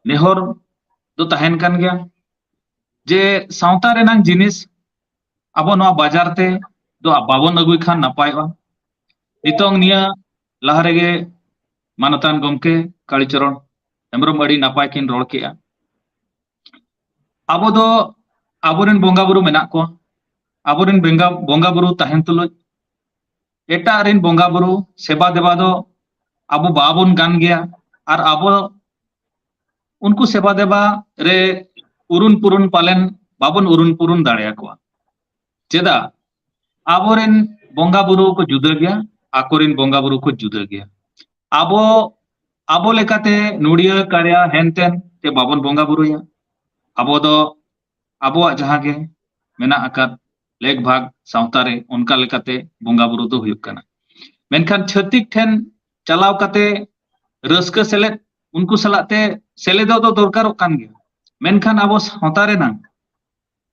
ᱱᱮᱦᱚᱨ ᱫᱚ ᱛᱟᱦᱮᱱ ᱠᱟᱱ ᱜᱮᱭᱟ ᱡᱮ ᱥᱟᱶᱛᱟ ᱨᱮᱱᱟᱝ ᱡᱤᱱᱤᱥ ᱟᱵᱚ ᱱᱚᱣᱟ ᱵᱟᱡᱟᱨ ᱛᱮ ᱫᱚ ᱵᱟᱵᱚᱱ ᱟᱹᱜᱩᱭ ᱠᱷᱟᱱ ᱱᱟᱯᱟᱭᱚᱜᱼᱟ ᱱᱤᱛᱚᱝ ᱱᱤᱭᱟᱹ ᱞᱟᱦᱟ ᱨᱮᱜᱮ ᱢᱟᱱᱚᱛᱟᱱ ᱜᱚᱢᱠᱮ ᱠᱟᱲᱤᱪᱚᱨᱚᱱ ᱦᱮᱢᱵᱨᱚᱢ ᱟᱹᱰᱤ ᱱᱟᱯᱟᱭ ᱠᱤᱱ ᱨᱚᱲ ᱠᱮᱜᱼᱟ ᱟᱵᱚ ᱫᱚ ᱟᱵᱚᱨᱮᱱ ᱵᱚᱸᱜᱟ ᱵᱩᱨᱩ ᱢᱮᱱᱟᱜ ᱠᱚᱣᱟ ᱟᱵᱚᱨᱮᱱ ᱵᱚᱸᱜᱟ ᱵᱚᱸᱜᱟ ᱵᱩᱨᱩ ᱛᱟᱦᱮᱱ ᱛᱩᱞᱩᱡ ᱮᱴᱟᱜ ᱨᱮᱱ ᱵᱚᱸᱜᱟ ᱵᱩᱨᱩ ᱥᱮᱵᱟ ᱫᱮᱵᱟ ᱫᱚ ᱟᱵᱚ ᱵᱟᱵᱚᱱ ᱜᱟᱱ ᱜᱮᱭᱟ ᱟᱨ ᱟᱵᱚ ᱩᱱᱠᱩ ᱥᱮᱵᱟ ᱫᱮᱵᱟ ᱨᱮ ᱩᱨᱩᱱ ᱯᱩᱨᱩᱱ ᱯᱟᱞᱮᱱ ᱵᱟᱵᱚᱱ ᱩᱨᱩᱱ ᱯᱩᱨᱩᱱ ᱫᱟᱲᱮᱭᱟᱠᱚᱣᱟ ᱪᱮᱫᱟᱜ ᱟᱵᱚᱨᱮᱱ ᱵᱚᱸᱜᱟ ᱵᱩᱨᱩ ᱠᱚ ᱡᱩᱫᱟᱹ ᱜᱮᱭᱟ ᱟᱠᱚᱨᱮᱱ ᱵᱚᱸᱜᱟ ᱵᱩᱨᱩ ᱠᱚ ᱡᱩᱫᱟᱹ ᱜᱮᱭᱟ ᱟᱵᱚ ᱟᱵᱚ ᱞᱮᱠᱟᱛᱮ ᱱᱩᱲᱤᱭᱟᱹ ᱠᱟᱲᱭᱟ ᱦᱮᱱᱛᱮᱱ ᱛᱮ ᱵᱟᱵᱚᱱ ᱵᱚᱸᱜᱟ ᱵᱩᱨᱩᱭᱟ ᱟᱵᱚ ᱫᱚ ᱟᱵᱚᱣᱟᱜ ᱡᱟᱦᱟᱸ ᱜᱮ ᱢᱮᱱᱟᱜ ᱟᱠᱟᱫ ᱞᱮᱠ ᱵᱷᱟᱜᱽ ᱥᱟᱶᱛᱟ ᱨᱮ ᱚᱱᱠᱟ ᱞᱮᱠᱟᱛᱮ ᱵᱚᱸᱜᱟ ᱵᱩᱨᱩ ᱫᱚ ᱦᱩᱭᱩᱜ ᱠᱟᱱᱟ ᱢᱮᱱᱠᱷᱟᱱ ᱪᱷᱟᱹᱛᱤᱠ ᱴᱷᱮᱱ ᱪᱟᱞᱟᱣ ᱠᱟᱛᱮ ᱨᱟᱹᱥᱠᱟᱹ ᱥᱮᱞᱮᱫ ᱩᱱᱠᱩ ᱥᱟᱞᱟᱜ ᱛᱮ ᱥᱮᱞᱮᱫᱚᱜ ᱫᱚ ᱫᱚᱨᱠᱟᱨᱚᱜ ᱠᱟᱱ ᱜᱮᱭᱟ ᱢᱮᱱᱠᱷᱟᱱ ᱟᱵᱚ ᱥᱟᱶᱛᱟ ᱨᱮᱱᱟᱜ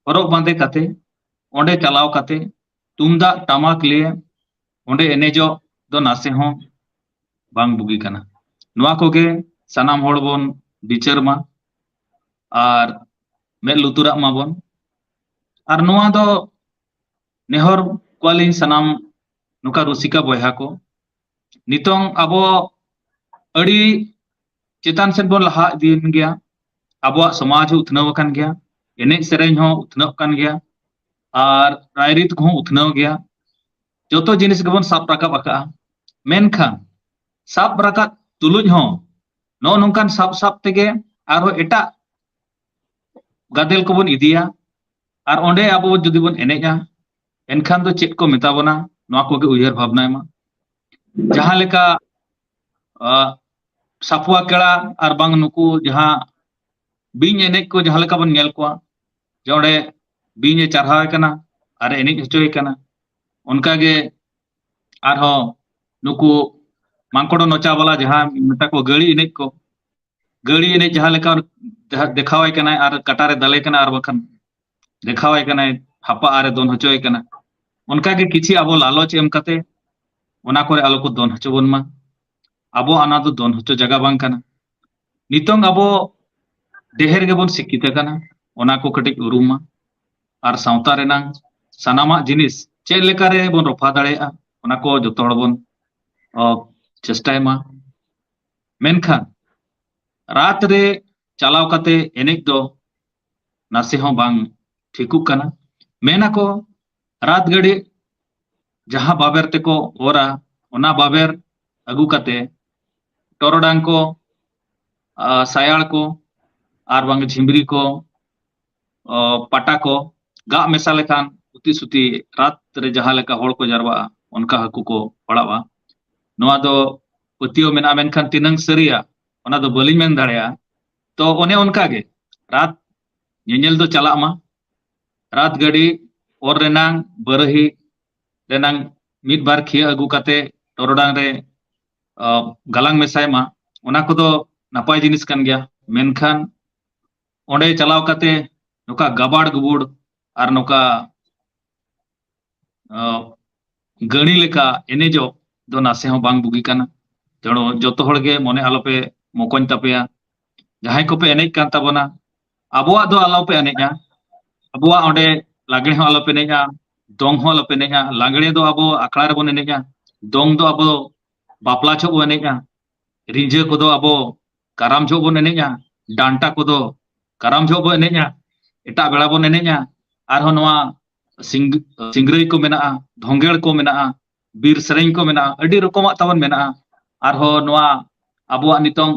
ᱦᱚᱨᱚᱜ ᱵᱟᱸᱫᱮ ᱠᱟᱛᱮ ᱚᱸᱰᱮ ᱪᱟᱞᱟᱣ ᱠᱟᱛᱮ ᱛᱩᱢᱫᱟᱜ ᱴᱟᱢᱟᱠ ᱞᱤᱭᱮ ᱚᱸᱰᱮ ᱮᱱᱮᱡᱚᱜ ᱫᱚ ᱱᱟᱥᱮ ᱦᱚᱸ ᱵᱟᱝ ᱵᱩᱜᱤ ᱠᱟᱱᱟ ᱱᱚᱣᱟ ᱠᱚᱜᱮ ᱥᱟᱱᱟᱢ ᱦᱚᱲ ᱵᱚᱱ ᱵᱤᱪᱟᱹᱨ ᱢᱟ ᱟᱨ ᱢᱮᱫ ᱞᱩᱛᱩᱨᱟᱜ ᱢᱟᱵᱚᱱ ᱟᱨ ᱱᱚᱣᱟ ᱫᱚ ᱱᱮᱦᱚᱨ ᱠᱚᱣᱟᱞᱤᱧ ᱥᱟᱱᱟᱢ ᱱᱚᱝᱠᱟ ᱨᱩᱥᱤᱠᱟ ᱵᱚᱭᱦᱟ ᱠᱚ ᱱᱤᱛᱚᱝ ᱟᱵᱚ ᱟᱹᱰᱤ ᱪᱮᱛᱟᱱ ᱥᱮᱫ ᱵᱚᱱ ᱞᱟᱦᱟ ᱤᱫᱤᱭᱮᱱ ᱜᱮᱭᱟ ᱟᱵᱚᱣᱟᱜ ᱥᱚᱢᱟᱡᱽ ᱦᱚᱸ ᱩᱛᱱᱟᱹᱣ ᱟᱠᱟᱱ ᱜᱮᱭᱟ ᱮᱱᱮᱡ ᱥᱮᱨᱮᱧ ᱦᱚᱸ ᱩᱛᱱᱟᱹᱜ ᱠᱟᱱ ᱜᱮᱭᱟ ᱟᱨ ᱨᱟᱭᱨᱤᱛ ᱠᱚᱦᱚᱸ ᱩᱛᱱᱟᱹᱣ ᱜᱮᱭᱟ ᱡᱚᱛᱚ ᱡᱤᱱᱤᱥ ᱜᱮᱵᱚᱱ ᱥᱟᱵ ᱨᱟᱠᱟᱵ ᱟᱠᱟᱫᱼᱟ ᱢᱮᱱᱠᱷᱟᱱ ᱥᱟᱵ ᱨᱟᱠᱟᱵ ᱛᱩᱞᱩᱡ ᱦᱚᱸ ᱱᱚᱜᱼᱚ ᱱᱚᱝᱠᱟᱱ ᱥᱟᱵ ᱥᱟᱵ ᱛᱮᱜᱮ ᱟᱨᱦᱚᱸ ᱮᱴᱟᱜ ᱜᱟᱫᱮᱞ ᱠᱚᱵᱚᱱ ᱤᱫᱤᱭᱟ ᱟᱨ ᱚᱸᱰᱮ ᱟᱵᱚ ᱡᱩᱫᱤ ᱵᱚᱱ ᱮᱱᱮᱡᱼᱟ ᱮᱱᱠᱷᱟᱱ ᱫᱚ ᱪᱮᱫ ᱠᱚ ᱢᱮᱛᱟ ᱵᱚᱱᱟ ᱱᱚᱣᱟ ᱠᱚᱜᱮ ᱩᱭᱦᱟᱹᱨ ᱵᱷᱟᱵᱽᱱᱟᱭ ᱢᱟ ᱡᱟᱦᱟᱸ ᱞᱮᱠᱟ ᱥᱟᱯᱩᱣᱟ ᱠᱮᱲᱟ ᱟᱨ ᱵᱟᱝ ᱱᱩᱠᱩ ᱡᱟᱦᱟᱸ ᱵᱤᱧ ᱮᱱᱮᱡ ᱠᱚ ᱡᱟᱦᱟᱸ ᱞᱮᱠᱟ ᱵᱚᱱ ᱧᱮᱞ ᱠᱚᱣᱟ ᱡᱮ ᱚᱸᱰᱮ ᱵᱤᱧ ᱮ ᱪᱟᱨᱦᱟᱣ ᱮ ᱠᱟᱱᱟ ᱟᱨ ᱮ ᱮᱱᱮᱡ ᱦᱚᱪᱚᱭᱮ ᱠᱟᱱᱟ ᱚᱱᱠᱟᱜᱮ ᱟᱨᱦᱚᱸ ᱱᱩᱠᱩ ᱢᱟᱝᱠᱚᱲᱚ ᱱᱚᱪᱟ ᱵᱟᱞᱟ ᱡᱟᱦᱟᱸ ᱢᱮᱛᱟ ᱠᱚ ᱜᱟᱹᱲᱤ ᱮᱱᱮᱡ ᱠᱚ ᱜᱟᱹᱲᱤ ᱮᱱᱮᱡ ᱡᱟᱦᱟᱸ ᱞᱮᱠᱟ ᱡᱟᱦᱟᱸ ᱫᱮᱠᱷᱟᱣᱟᱭ ᱠᱟᱱᱟᱭ ᱟᱨ ᱠᱟᱴᱟᱨᱮ ᱫᱟᱞᱮ ᱠᱟᱱᱟ ᱟᱨ ᱵᱟᱠᱷᱟᱱ ᱫᱮᱠᱷᱟᱣᱟᱭ ᱠᱟᱱᱟᱭ ᱦᱟᱯᱟ ᱟᱨᱮ ᱫᱚᱱ ᱦᱚᱪᱚᱭᱮ ᱠᱟᱱᱟ ᱚᱱᱠᱟᱜᱮ ᱠᱤᱪᱷᱤ ᱟᱵᱚ ᱞᱟᱞᱚᱪ ᱮᱢ ᱠᱟᱛᱮ ᱚᱱᱟ ᱠᱚᱨᱮ ᱟᱞᱚ ᱠᱚ ᱫᱚᱱ ᱦᱚᱪᱚ ᱵᱚᱱ ᱢᱟ ᱟᱵᱚ ᱚᱱᱟ ᱫᱚ ᱫᱚᱱ ᱦᱚᱪᱚ ᱡᱟᱭᱜᱟ ᱵᱟᱝ ᱠᱟᱱᱟ ᱱᱤᱛᱚᱝ ᱟᱵᱚ ᱰᱮᱦᱮᱨ ᱜᱮᱵᱚᱱ ᱥᱤᱠᱠᱷᱤᱛ ᱟᱠᱟᱱᱟ ᱚᱱᱟ ᱠᱚ ᱠᱟᱹᱴᱤᱡ ᱩᱨᱩᱢ ᱢᱟ ᱟᱨ ᱥᱟᱶᱛᱟ ᱨᱮᱱᱟᱝ ᱥᱟᱱᱟᱢᱟᱜ ᱡᱤᱱᱤᱥ ᱪᱮᱫ ᱞᱮᱠᱟ ᱨᱮ ᱵᱚᱱ ᱨᱚᱯᱷᱟ ᱫᱟᱲᱮᱭᱟᱜᱼᱟ ᱚᱱᱟ ᱠᱚ ᱡᱚᱛᱚ ᱦᱚᱲ ᱵᱚᱱ ᱪᱮᱥᱴᱟᱭ ᱢᱟ ᱢᱮᱱᱠᱷᱟᱱ ᱨᱟᱛ ᱨᱮ ᱪᱟᱞᱟᱣ ᱠᱟᱛᱮ ᱮᱱᱮᱡ ᱫᱚ ᱱᱟᱥᱮ ᱦᱚᱸ ᱵᱟᱝ ᱴᱷᱤᱠᱩᱜ ᱠᱟᱱᱟ ᱢᱮᱱ ᱟᱠᱚ ᱨᱟᱛ ᱜᱟᱹᱰᱤ ᱡᱟᱦᱟᱸ ᱵᱟᱵᱮᱨ ᱛᱮᱠᱚ ᱚᱨᱟ ᱚᱱᱟ ᱵᱟᱵᱮᱨ ᱟᱹᱜᱩ ᱠᱟᱛᱮ ᱴᱚᱨᱚᱰᱟᱝ ᱠᱚ ᱥᱟᱭᱟᱲ ᱠᱚ ᱟᱨ ᱵᱟᱝ ᱡᱷᱤᱢᱨᱤ ᱠᱚ ᱯᱟᱴᱟ ᱠᱚ ᱜᱟᱜ ᱢᱮᱥᱟ ᱞᱮᱠᱷᱟᱱ ᱩᱛᱤ ᱥᱩᱛᱤ ᱨᱟᱛ ᱨᱮ ᱡᱟᱦᱟᱸ ᱞᱮᱠᱟ ᱦᱚᱲ ᱠᱚ ᱡᱟᱨᱣᱟᱜᱼᱟ ᱚᱱᱠᱟ ᱦᱟᱹᱠᱩ ᱠᱚ ᱯᱟᱲᱟᱜᱼᱟ ᱱᱚᱣᱟ ᱫᱚ ᱯᱟᱹᱛᱭᱟᱹᱣ ᱢᱮᱱᱟᱜᱼᱟ ᱢᱮᱱᱠᱷᱟᱱ ᱛᱤᱱᱟᱹᱝ ᱥᱟᱹᱨᱤᱭᱟ ᱚᱱᱟ ᱫᱚ ᱵᱟᱹᱞᱤᱧ ᱢᱮᱱ ᱫᱟᱲᱮᱭᱟᱜᱼᱟ ᱛᱚ ᱚᱱᱮ ᱚᱱᱠᱟ ᱜᱮ ᱨᱟᱛ ᱧᱮᱧᱮᱞ ᱫᱚ ᱪᱟᱞᱟᱜ ᱢᱟ ᱨᱟᱛ ᱜᱟᱹᱰᱤ ᱚᱨ ᱨᱮᱱᱟᱝ ᱵᱟᱹᱨᱟᱹᱦᱤ ᱨᱮᱱᱟᱝ ᱢᱤᱫ ᱵᱟᱨ ᱠᱷᱤᱭᱟᱹ ᱟᱹᱜᱩ ᱠᱟᱛᱮ ᱴᱚᱨᱚᱰᱟᱝ ᱨᱮ ᱜᱟᱞᱟᱝ ᱢᱮᱥᱟᱭ ᱢᱟ ᱚᱱᱟ ᱠᱚᱫᱚ ᱱᱟᱯᱟᱭ ᱡᱤᱱᱤᱥ ᱠᱟᱱ ᱜᱮᱭᱟ ᱢᱮᱱᱠᱷᱟᱱ ᱚᱸᱰᱮ ᱪᱟᱞᱟᱣ ᱠᱟᱛᱮ ᱱᱚᱝᱠᱟ ᱜᱟᱵᱟᱲ ᱜᱩᱵᱩᱲ ᱟᱨ ᱱᱚᱝᱠᱟ ᱜᱟᱹᱲᱤ ᱞᱮᱠᱟ ᱮᱱᱮᱡᱚᱜ ᱫᱚ ᱱᱟᱥᱮ ᱦᱚᱸ ᱵᱟᱝ ᱵᱩᱜᱤ ᱠᱟᱱᱟ ᱛᱮᱲᱚ ᱡᱚᱛᱚ ᱦᱚᱲ ᱜᱮ ᱢᱚᱱᱮ ᱟᱞᱚᱯᱮ ᱢᱚᱠᱚᱧ ᱛᱟᱯᱮᱭᱟ ᱡᱟᱦᱟᱸᱭ ᱠᱚᱯᱮ ᱮᱱᱮᱡ ᱠᱟᱱ ᱛᱟᱵᱚᱱᱟ ᱟᱵᱚᱣᱟᱜ ᱫᱚ ᱟᱞᱚᱯᱮ ᱮᱱᱮᱡᱼᱟ ᱟᱵᱚᱣᱟᱜ ᱚᱸᱰᱮ ᱞᱟᱜᱽᱲᱮ ᱦᱚᱸ ᱟᱞᱚᱯᱮ ᱮᱱᱮᱡᱼᱟ ᱫᱚᱝ ᱦᱚᱸ ᱟᱞᱚᱯᱮ ᱮᱱᱮᱡᱼᱟ ᱞᱟᱜᱽᱲᱮ ᱫᱚ ᱟᱵᱚ ᱟᱠᱷᱲᱟ ᱨᱮᱵᱚᱱ ᱮᱱᱮᱡᱼᱟ ᱫᱚᱝ ᱫᱚ ᱟᱵᱚ ᱵᱟᱯᱞᱟ ᱡᱚᱦᱚᱜ ᱵᱚᱱ ᱮᱱᱮᱡᱼᱟ ᱨᱤᱸᱡᱷᱟᱹ ᱠᱚᱫᱚ ᱟᱵᱚ ᱠᱟᱨᱟᱢ ᱡᱚᱦᱚᱜ ᱵᱚᱱ ᱮᱱᱮᱡᱼᱟ ᱰᱟᱱᱴᱟ ᱠᱚᱫᱚ ᱠᱟᱨᱟᱢ ᱡᱚᱦᱚᱜ ᱵᱚᱱ ᱮᱱᱮᱡᱼᱟ ᱮᱴᱟᱜ ᱵᱮᱲᱟ ᱵᱚᱱ ᱮᱱᱮᱡᱼᱟ ᱟᱨᱦᱚᱸ ᱱᱚᱣᱟ ᱥᱤᱝ ᱥᱤᱝᱨᱟᱹᱭ ᱠᱚ ᱢᱮᱱᱟᱜᱼᱟ ᱫᱷᱚᱝᱜᱮᱲ ᱠᱚ ᱢᱮᱱᱟᱜᱼᱟ ᱵᱤᱨ ᱥᱮᱨᱮᱧ ᱠᱚ ᱢᱮᱱᱟᱜᱼᱟ ᱟᱹᱰᱤ ᱨᱚᱠᱚᱢᱟᱜ ᱛᱟᱵᱚᱱ ᱢᱮᱱᱟᱜᱼᱟ ᱟᱨᱦᱚᱸ ᱱᱚᱣᱟ ᱟᱵᱚᱣᱟᱜ ᱱᱤᱛᱚᱝ